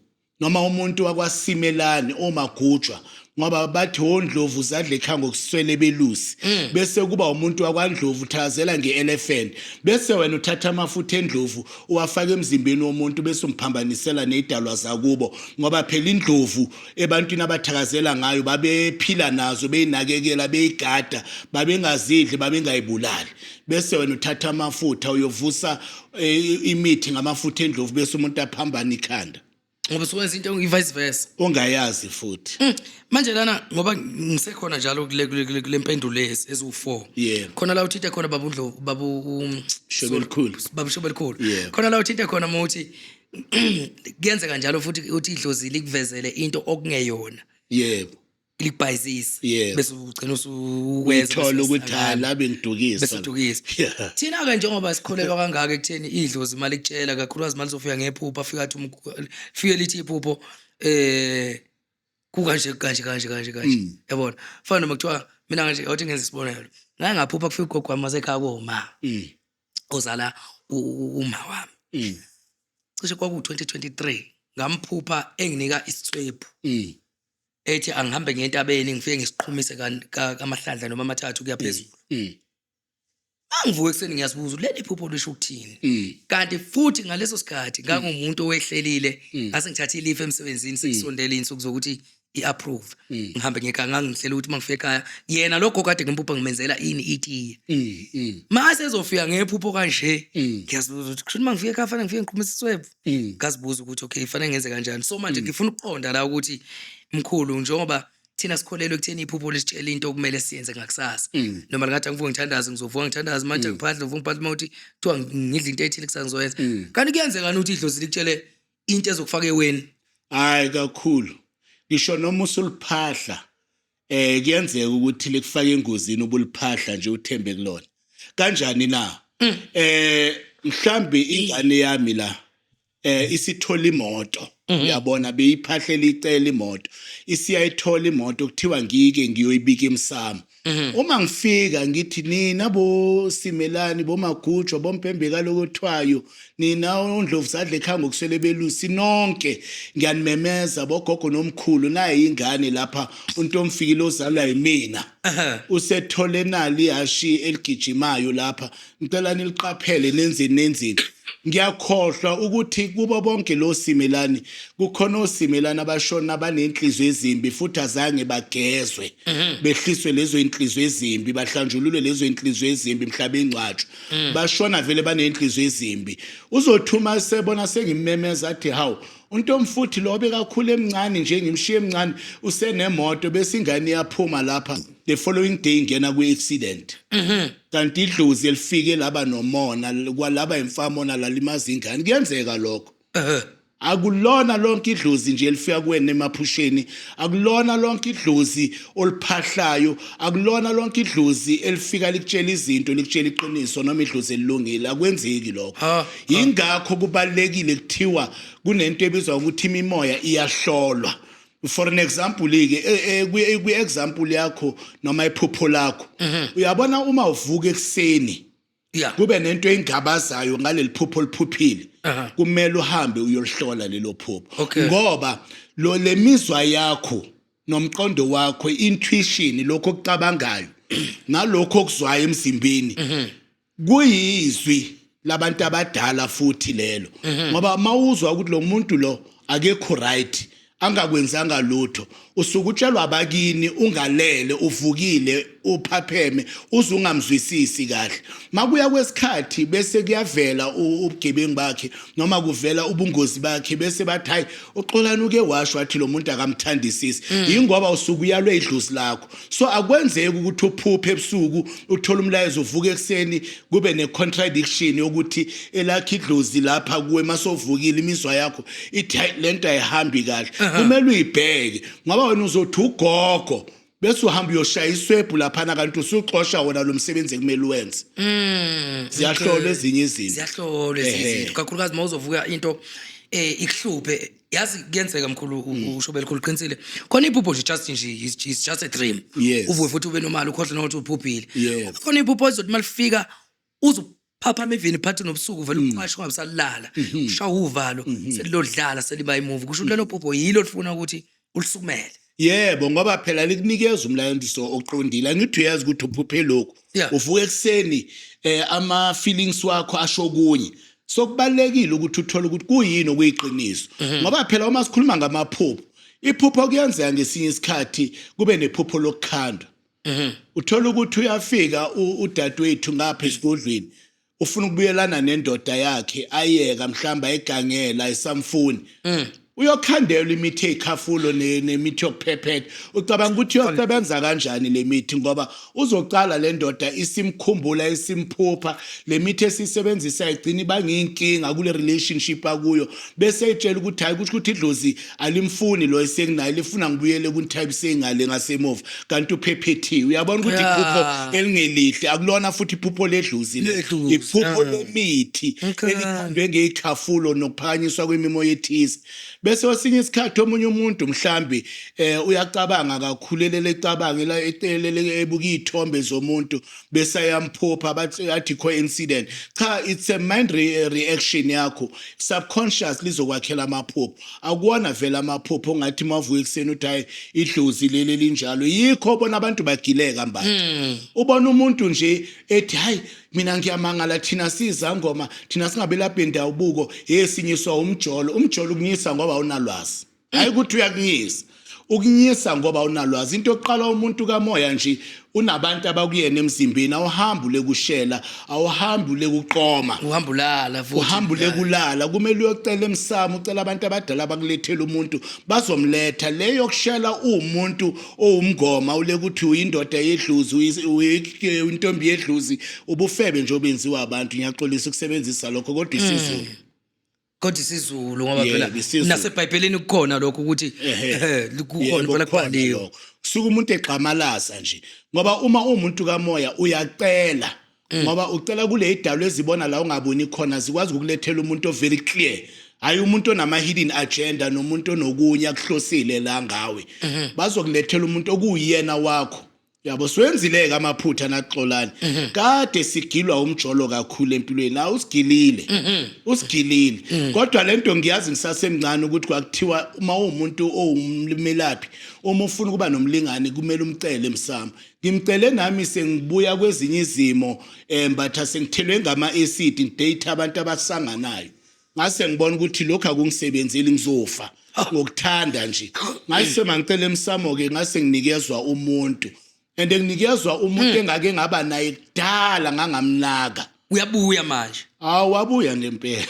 [SPEAKER 1] noma umuntu wakwasimelani omagujwa ngoba bathi ondlovu zadle kha ngokuswele belusi mm. bese kuba umuntu wakwandlovu thazela ngeelephant bese wena uthatha amafutha endlovu uwafaka emzimbeni womuntu bese umphambanisela nezidalwa zakubo ngoba phela indlovu ebantwini abathakazela ngayo babephila nazo beyinakekela beyigada babengazidli babengayibulali bese wena uthatha amafutha uyovusa eh, imithi ngamafutha endlovu bese umuntu aphambana ikhanda ngoba sokwenza into
[SPEAKER 2] i-vice versa ongayazi futhi
[SPEAKER 1] Mm, manje lana
[SPEAKER 2] ngoba ngisekhona njalo kule- kule kule- kule mpendulo ezi- eziwu-four Yebo. khona la uthinte khona babu Ndlovu- babu um, Shobe elikhulu. babu shobe elikhulu Yebo. khona la uthinte khona uma uthi kuyenzeka njalo futhi uthi idlozi likuvezele into okungeyona yebo
[SPEAKER 1] ilibhayizisa
[SPEAKER 2] Yes. bese ugcina usuweza Uyithola ukuthi ha
[SPEAKER 1] la bengidukisa. bese udukisa Yeah.
[SPEAKER 2] thina ke njengoba sikholelwa kangaka ekutheni idlozi imali kutshela kakhulukazi imali zofika ngephupho afika athi umgu- fike lithi iphupho eh kukanje kanje kanje kanje kanje Mm. yabona fana noma kuthiwa mina kanje awuthi ngenza isibonelo ngake ngaphupha kufika ugogo wami wasekhaya koma Mm. ozala u- u- uma wami Mm. cishe kwaku-2023 ngamphupha enginika isitswebhu Mm. ethi angihambe ngentabeni ngifike ngisiqhumise kamahlandla noma amathathu kuyaphezulu mm, mm. angivuke ekuseni ngiyazibuza leli phupho lisho ukuthini mm. kanti futhi ngaleso sikhathi ngangumuntu owehlelile ngase ngithathe ilife emsebenzini sekusondela insuku zokuthi i-approve ngihambe ngekanga ngihlela ukuthi uma ngifika ekhaya yena lokho kade ngimpupha ngimenzela ini itiye mase ezofika ngephupho kanje ngiyazibuza ukuthi kusho uma ngifika ekhaya fanele ngifike ngiqhumise iswebhu mm. ngazibuza ukuthi okay kufanele ngenze kanjani so manje mm. ngifuna ukuqonda la ukuthi mkhulu njengoba thina sikholelwe ekutheni iphupho lisitshela into okumele siyenze ngakusasa mm. noma lingathi angivuke ngithandaze ngizovuka ngithandaze manje ngiphahle ngivuka ngiphahle uma uthi kuthiwa ngidla into ethile kusasa ngizoyenza kanti kuyenzekani ukuthi idlozi likutshele into ezokufaka eweni hayi
[SPEAKER 1] kakhulu ngisho noma usuliphahla eh kuyenzeka ukuthi likufake engozini ubuliphahla nje uthembe kulona kanjani na mm. eh mhlambi ingane yami la eh isithola imoto mhm. uyabona beyiphahlela icela imoto isiyayithola imoto kuthiwa ngike ngiyoyibika emsamo mhm. uma ngifika ngithi nina bo simelani bo magujwa bompembeka lokuthwayo nina ondlovu sadla ekhaya ngokuswele belusi nonke ngiyanimemeza bogogo nomkhulu naye yingane lapha untomfikile ozalwa yimina usethole nali yashi eligijimayo lapha ngicela niliqaphele nenzeni nenzeni ngiyakhohlwa ukuthi kubo bonke lo simelani kukhona osimelani abashona banenhliziyo ezimbi futhi azange bagezwe mhm. behliswe lezo inhliziyo ezimbi bahlanjululwe lezo inhliziyo ezimbi mhlaba ingcwatshwa mm. bashona vele baney'nhliziyo ezimbi uzothuma sebona sengimemeza athi hawu untomfuthi lo bekakhulu emncane nje ngimshiye emncane usenemoto bese ingane iyaphuma lapha the following day ingena kwi-accident mhm. kanti idlozi elifike laba nomona kwalaba imfamona lalimaza ingane kuyenzeka lokho akulona lonke idlozi nje elifika kuwena emaphusheni akulona lonke idlozi oliphahlayo akulona lonke idlozi elifika likutshela izinto likutshela iqiniso noma idlozi elilungile akwenzeki lokho ingakho kubalekile kuthiwa kunento ebizwa ukuthi imimoya iyahlolwa for an example ke e, e, kwi example yakho noma iphupho lakho mhm. uyabona uma uvuka ekseni yeah. kube nento engabazayo ngaleli phupho oliphuphile uh -huh. kumele uhambe uyolihlola lelo phupho okay. ngoba lo lemizwa yakho nomqondo wakho intuition lokho okucabangayo nalokho okuzwayo emzimbeni mhm. kuyizwi labantu abadala futhi lelo mhm. ngoba mawuzwa ukuthi lo muntu lo akekho right angakwenzanga lutho usuke utshelwa abakini ungalele uvukile uphapheme uze ungamzwisisi kahle makuya kwesikhathi bese kuyavela ubugebengu bakhe noma kuvela ubungozi bakhe bese bathi hayi uxolani uke washo wathi lo muntu akamthandisisi mm. yingoba usuke uyalwe idlozi lakho So akwenzeki ukuthi uphuphe ebusuku uthole umlayezo uvuka ekseni kube ne contradiction yokuthi elakhe idlozi lapha kuwe masovukile imizwa yakho ithi lento ayihambi kahle kumele uyibheke ngoba wena uzothi ugogo bese uhamba uyoshaya iswebhu laphana kanti usuxosha wona lo msebenzi ekumele uwenze mm, ziyahlolwa ezinye izinto ziyahlolwa ezinye izinto
[SPEAKER 2] kakhulukazi uma uzovuka into eh ikuhluphe yazi kuyenzeka mkhulu u- Mm. usho belikhulu qinisile khona iphupho nje just nje is is just a dream Yes. uvuke futhi ube nomali ukhohle nokuthi uphuphile Yes. khona iphupho ezothi uma lifika uzuphaphama evini phathi nobusuku vele Mm. uqashe ungabisalala Mm-hmm. ushawa uvalo selilodlala seliba imuvi kusho ukuthi lelo phupho yilo lifuna ukuthi ulisukumele Yebo ngoba
[SPEAKER 1] phela likunikeza umlayezo oqondile. Angithi uyazi ukuthi uphuphe lokhu. Yeah. Uvuka ekuseni eh ama feelings wakho asho kunye. So kubalekile ukuthi uthole ukuthi kuyini okuyiqiniso. Ngoba phela uma sikhuluma ngamaphupho, iphupho kuyenzeka ngesinye isikhathi kube nephupho lokukhandwa. Uthola ukuthi uyafika u- udadewethu ngapha esigodlweni. ufuna ukubuyelana nendoda yakhe ayeka mhlawumbe ayigangela ayisamfuni mm. uyokhandelwa imithi eyikhafulo nemithi yokuphephetha ucabanga ukuthi uyosebenza kanjani le mithi ngoba uzocala le ndoda isimkhumbula isimphupha le mithi esiyisebenzisa igcina ibangiyinkinga kule relationship akuyo bese eyitshela ukuthi hhayi kusho ukuthi idlozi alimfuni lo esenginaye lifuna ngibuyele kunithayibise ingale ngasemuva kanti uphephethiwe uyabona ukuthi Yeah. iphupho elingelihle akulona futhi iphupho ledlozi le. Ledlozi, iphupho yeah. lemithi Okay. elikhandwe ngeyikhafulo nokuphakanyiswa kwemimoya ethize bese kwesinye isikhathi omunye umuntu mhlambi eh uyacabanga kakhulu elele ecabanga ela- ecelele ebuka iy'thombe zomuntu besayamphupha bathi athi coincident cha it's a mind re reaction yakho subconscious lizokwakhela amaphupho akuwona vele amaphupho ongathi mavuka ekuseni uthi hayi idlozi leli linjalo yikho bona abantu bagileka mba hmm. ubona umuntu nje ethi hayi mina ngiyamangala thina sizangoma thina singabelaphi ndawo buko yesinyiswa umjolo umjolo kunyisa ngoba unalwazi hayi ukuthi uyakunyisa ukunyisa ngoba unalwazi into yokuqala umuntu kamoya nje unabantu abakuyena emzimbeni awuhambi ulekushela awuhambi ulekuqoma uhamba ulala futhi
[SPEAKER 2] uhamba ulekulala
[SPEAKER 1] kumele uyocela emsamo ucela abantu abadala bakulethela umuntu bazomletha le yokushela uwumuntu owumngoma ulekuthi uyindoda yedluzi uyi- intombi yedluzi ubufebe nje obenziwa abantu ngiyaxolisa ukusebenzisa lokho kodwa isizulu kodwa
[SPEAKER 2] isiZulu ngoba Yebo, phela isiZulu. nasebhayibhelini
[SPEAKER 1] kukhona
[SPEAKER 2] lokho ukuthi Ehhe. ehhe, kukhona Yebo, impela kukhona kubhaliwe lokho. suke umuntu
[SPEAKER 1] egxamalaza nje ngoba uma umuntu kamoya uyacela Mm. ngoba ucela kule idalo ezibona la ungaboni khona zikwazi ukulethela umuntu overi clear hayi umuntu onama-hidden agenda nomuntu onokunye akuhlosile la ngawe Mm-hmm. bazokulethela umuntu okuwuyena wakho Yabo siwenzile ke amaphutha naxolani. Mhm. Kade sigilwa umjolo kakhulu empilweni. Awu usigilile. Mhm. Usigilile. Mhm. Kodwa lento ngiyazi ngisasemncane ukuthi kwakuthiwa uma umuntu owumlimelaphi uma ufuna ukuba nomlingani kumele umcele emsamo. Ngimcele nami sengibuya kwezinye izimo eh mbatha sengithelwe ngama acid ngidate abantu abasanganayo. ngase ngibona ukuthi lokho akungisebenzeli ngizofa ngokuthanda nje ngase mangicela emsamo ke ngase nginikezwa umuntu and nginikezwa umuntu hmm. engake ngaba naye kudala ngangamnaka uyabuya manje
[SPEAKER 2] hawu wabuya
[SPEAKER 1] ngempela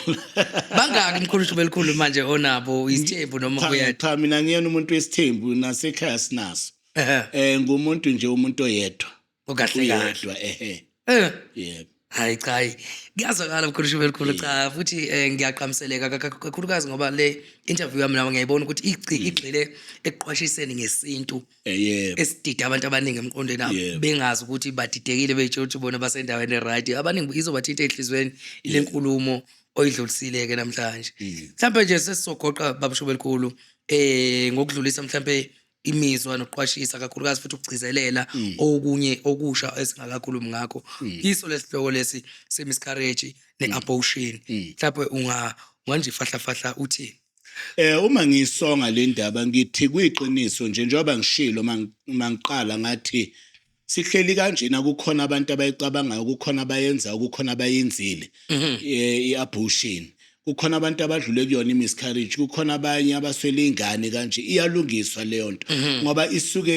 [SPEAKER 1] bangaki
[SPEAKER 2] mkhulu belikhulu manje onabo isithembu noma uyathi cha mina ngiyena umuntu
[SPEAKER 1] wesithembu nasekhaya sinaso eh ngumuntu nje umuntu oyedwa okahle kahle uyedwa
[SPEAKER 2] ehe
[SPEAKER 1] Eh, yebo hayi cha hayi.
[SPEAKER 2] kuyazwakala mkhulu shube elikhulu cha futhi eh, ngiyaqhamiseleka kaka- kakhulukazi ngoba le interview yami nawe ngiyayibona ukuthi igci- Mm. igxile ekuqwashiseni ngesintu Eh, yebo esidide
[SPEAKER 1] abantu abaningi
[SPEAKER 2] emqondweni abo Yebo. bengazi ukuthi badidekile beyitshela ukuthi bona basendaweni eright abaningi izobathinta ehlizweni ile nkulumo oyidlulisile-ke namhlanje Mm. mhlawumbe nje sesizogoqa babushuba elikhulu um ngokudlulisa mhlawumbe imizwa nokuqwashisa kakhulukazi futhi ukugcizelela mm. okunye okusha esingakakhulumi ngakho mm. iso lesihloko lesi semiscarriage ne-abortion mhlawumbe unga manje fahla fahla uthini Eh uma
[SPEAKER 1] ngisonga le ndaba ngithi kuyiqiniso nje njengoba ngishilo mangiqala ngathi sihleli kanjena kukhona abantu abayicabangayo kukhona abayenzayo kukhona abayenzile mhm. i-abortion kukhona abantu abadlule kuyona i-miscarriage kukhona abanye abaswele ingane kanje iyalungiswa leyo nto mhm. ngoba isuke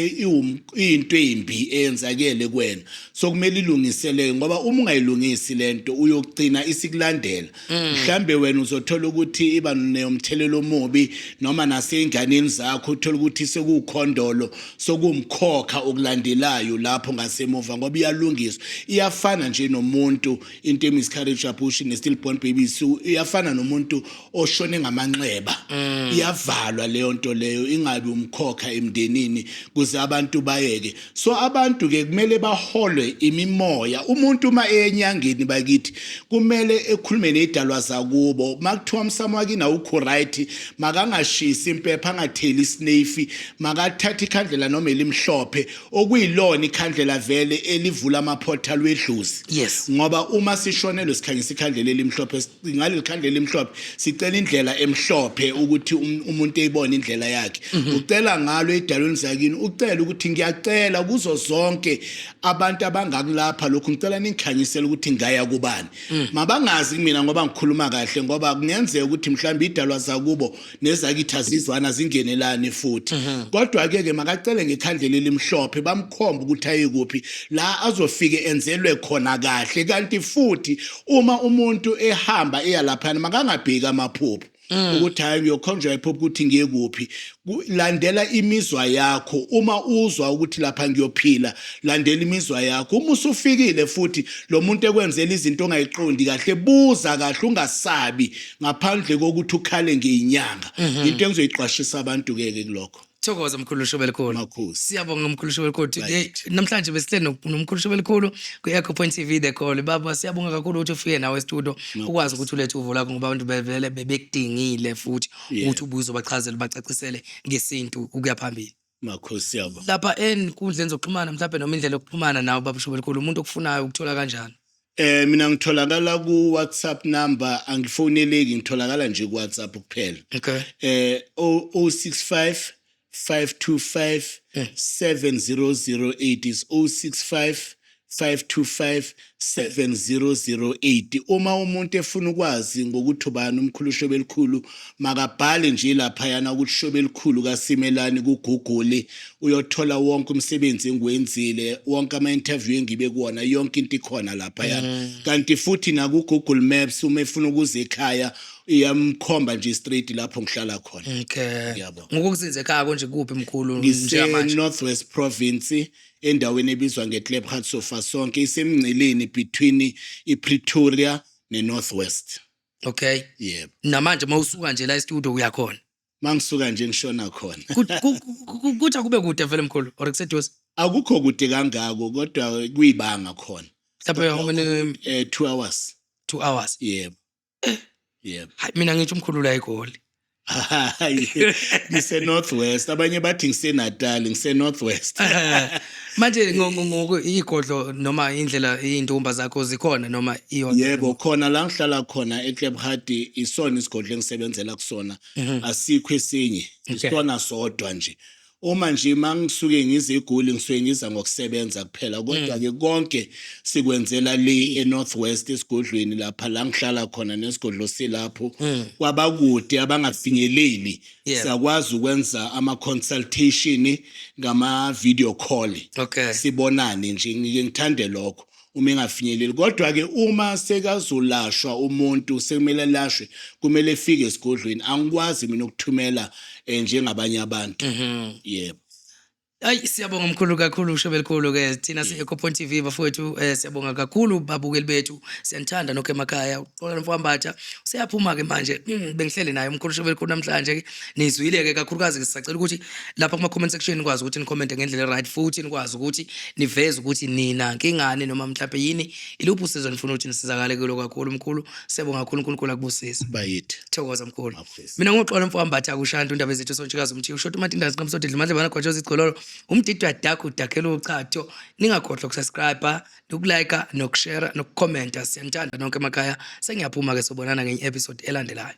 [SPEAKER 1] iyinto embi eyenzakele kwena so kumele ilungiseleke ngoba uma ungayilungisi lento uyogcina isikulandela Mm. mhlambe wena uzothola ukuthi iba nomthelelo omubi noma nasezinganeni zakho uthola ukuthi sekukhondolo sokumkhokha okulandelayo lapho ngasemuva ngoba iyalungiswa iyafana nje nomuntu into emiscarriage abortion ne-still born babies iyafana nomuntu oshone ngamanxeba mm. iyavalwa leyo nto leyo ingabi umkhokha emndenini kuze abantu bayeke So abantu ke kumele baholwe imimoya. Umuntu uma eyenyangeni bakithi kumele ekhulume nezidalwa zakubo. Makuthiwa umsamo wakini awukho right, makangashisi impepha, angatheli isinefi, makathathe ikhandlela noma elimhlophe okuyilona ikhandlela vele elivula ama portal wedlozi. Yes. Ngoba uma sishonelwe sikhangisa ikhandlela elimhlophe ngaleli khandla elimhlophe sicela indlela emhlophe ukuthi um, umuntu eyibone indlela yakhe mhm. ucela ngalo edalweni zakini ucela ukuthi ngiyacela kuzo zonke abantu abangakulapha lokhu ngicela ningikhanyisele ukuthi ngaya kubani mm. mabangazi kumina ngoba ngikhuluma kahle ngoba kungenzeka ukuthi mhlawumbe idalwa zakubo nezakithi azizwana zingenelani futhi mhm. kodwa ke ke makacele ngekhandlela elimhlophe bamkhomba ukuthi ayekuphi la azofike enzelwe khona kahle kanti futhi uma umuntu ehamba eya laphana makangabheki amaphupho Mm. ukuthi hayi ngiyokhonjwa iphupho ukuthi ngiye kuphi landela imizwa yakho uma uzwa ukuthi lapha ngiyophila landela imizwa yakho uma usufikile futhi lo muntu ekwenzela izinto ongayiqondi kahle buza kahle ungasabi ngaphandle kokuthi ukhale ngeyinyanga mhm. into engizoyiqwashisa abantu ke ke kulokho thokoza mkhulu shobe
[SPEAKER 2] elikhulu makhosi siyabonga
[SPEAKER 1] mkhulu shobe elikhulu
[SPEAKER 2] today namhlanje besihleli nomkhulu shobe elikhulu ku Echo Point TV the call baba siyabonga kakhulu ukuthi ufike nawe estudio ukwazi ukuthi ulethe uvo lakho ngoba abantu bevele bebekudingile futhi ukuthi ubuzo bachazele bacacisele ngesintu ukuya phambili makhosi yabo
[SPEAKER 1] lapha enkundleni
[SPEAKER 2] zokuxhumana mhlawumbe noma indlela yokuxhumana nawe baba Shobelikhulu umuntu okufunayo ukuthola kanjani Eh mina
[SPEAKER 1] ngitholakala ku WhatsApp number angifoneleki ngitholakala nje ku WhatsApp kuphela. Okay.
[SPEAKER 2] Eh 065 525 7008
[SPEAKER 1] is 065 5257008 uma umuntu efuna ukwazi ngokuthi ubani umkhulu shobe elikhulu makabhale nje laphayana ukuthi shobe elikhulu kasimelani kuguguli uyothola wonke umsebenzi engiwenzile wonke ama-interview engibe kuwona yonke into ikhona laphayana mm. kanti futhi nakugoogle maps uma efuna ukuza ekhaya iyamkhomba nje straight lapho ngihlala khona okay yabo
[SPEAKER 2] ngokukuzinze
[SPEAKER 1] ekhaya konje
[SPEAKER 2] kuphi mkhulu ngisenorth
[SPEAKER 1] west province endaweni ebizwa ngeKlipgat Sofasonke isemngceleni between iPretoria neNorth West. Okay.
[SPEAKER 2] Yebo. Namanje
[SPEAKER 1] uma usuka nje
[SPEAKER 2] la e-studio uyakhona. Mangisuka nje
[SPEAKER 1] ngishona khona. Kut- ku- ku- ku- Kuthi
[SPEAKER 2] akube kude vele mkhulu or kuseduze. Akukho kude
[SPEAKER 1] kangako kodwa kuyibanga khona. Mhlawumbe how
[SPEAKER 2] many Eh 2 hours.
[SPEAKER 1] 2 hours.
[SPEAKER 2] Yebo.
[SPEAKER 1] yebo hayi mina ngithi umkhulu
[SPEAKER 2] la egoli Hayi,
[SPEAKER 1] ngise northwest abanye bathi ngise natal ngise northwest manje
[SPEAKER 2] ngo- ngo- ngoku igodlo noma indlela iy'ndumba zakho zikhona noma iyodwa yebo khona la ngihlala
[SPEAKER 1] khona eclub hardy isona isigodlo engisebenzela kusona asikho esinye Mhm. Okay. isona sodwa nje Uma nje mangisuke ngize eGoli ngisuke ngiza ngokusebenza kuphela mm. kodwa ke konke sikwenzela le eNorth West esigodlweni lapha la ngihlala khona nesigodlo silapho mm. kwabakude abangafinyeleli siyakwazi ukwenza ama consultation ngama video call sibonane
[SPEAKER 2] nje
[SPEAKER 1] ngike ngithande lokho uma engafinyeleli kodwa-ke uma sekazolashwa umuntu sekumele alashwe kumele efike esigodlweni angikwazi mina ukuthumela um njengabanye abantu mhm. yebo Hayi
[SPEAKER 2] siyabonga mkhulu kakhulu ushebe likhulu ke thina si Eco Point TV bafowethu eh siyabonga kakhulu babukeli bethu siyanithanda nokho emakhaya uxola nomfambatha useyaphuma ke manje mm, bengihleli naye umkhulu ushebe likhulu namhlanje nizwile ke kakhulukazi ke sisacela ukuthi lapha kuma comment section nikwazi ukuthi ni comment ngendlela right futhi nikwazi ukuthi niveze ukuthi nina ngingane noma mhlawumbe yini iluphi usizo nifuna ukuthi nisizakale kulo kakhulu mkhulu siyabonga kakhulu uNkulunkulu akubusise bayithi thokoza
[SPEAKER 1] mkhulu
[SPEAKER 2] mina ngoxola mfowami bathi akushanda undaba ezethu sontshikazi umthiyo ushoda umatindazi nqamsode dlimadle bana kwajoza igcololo umdidwa dakho udakhela uchatho ningakhohlwa ukusubscribe nokulike nokushare nokucomment siyanithanda nonke emakhaya sengiyaphuma ke sobonana ngenye episode elandelayo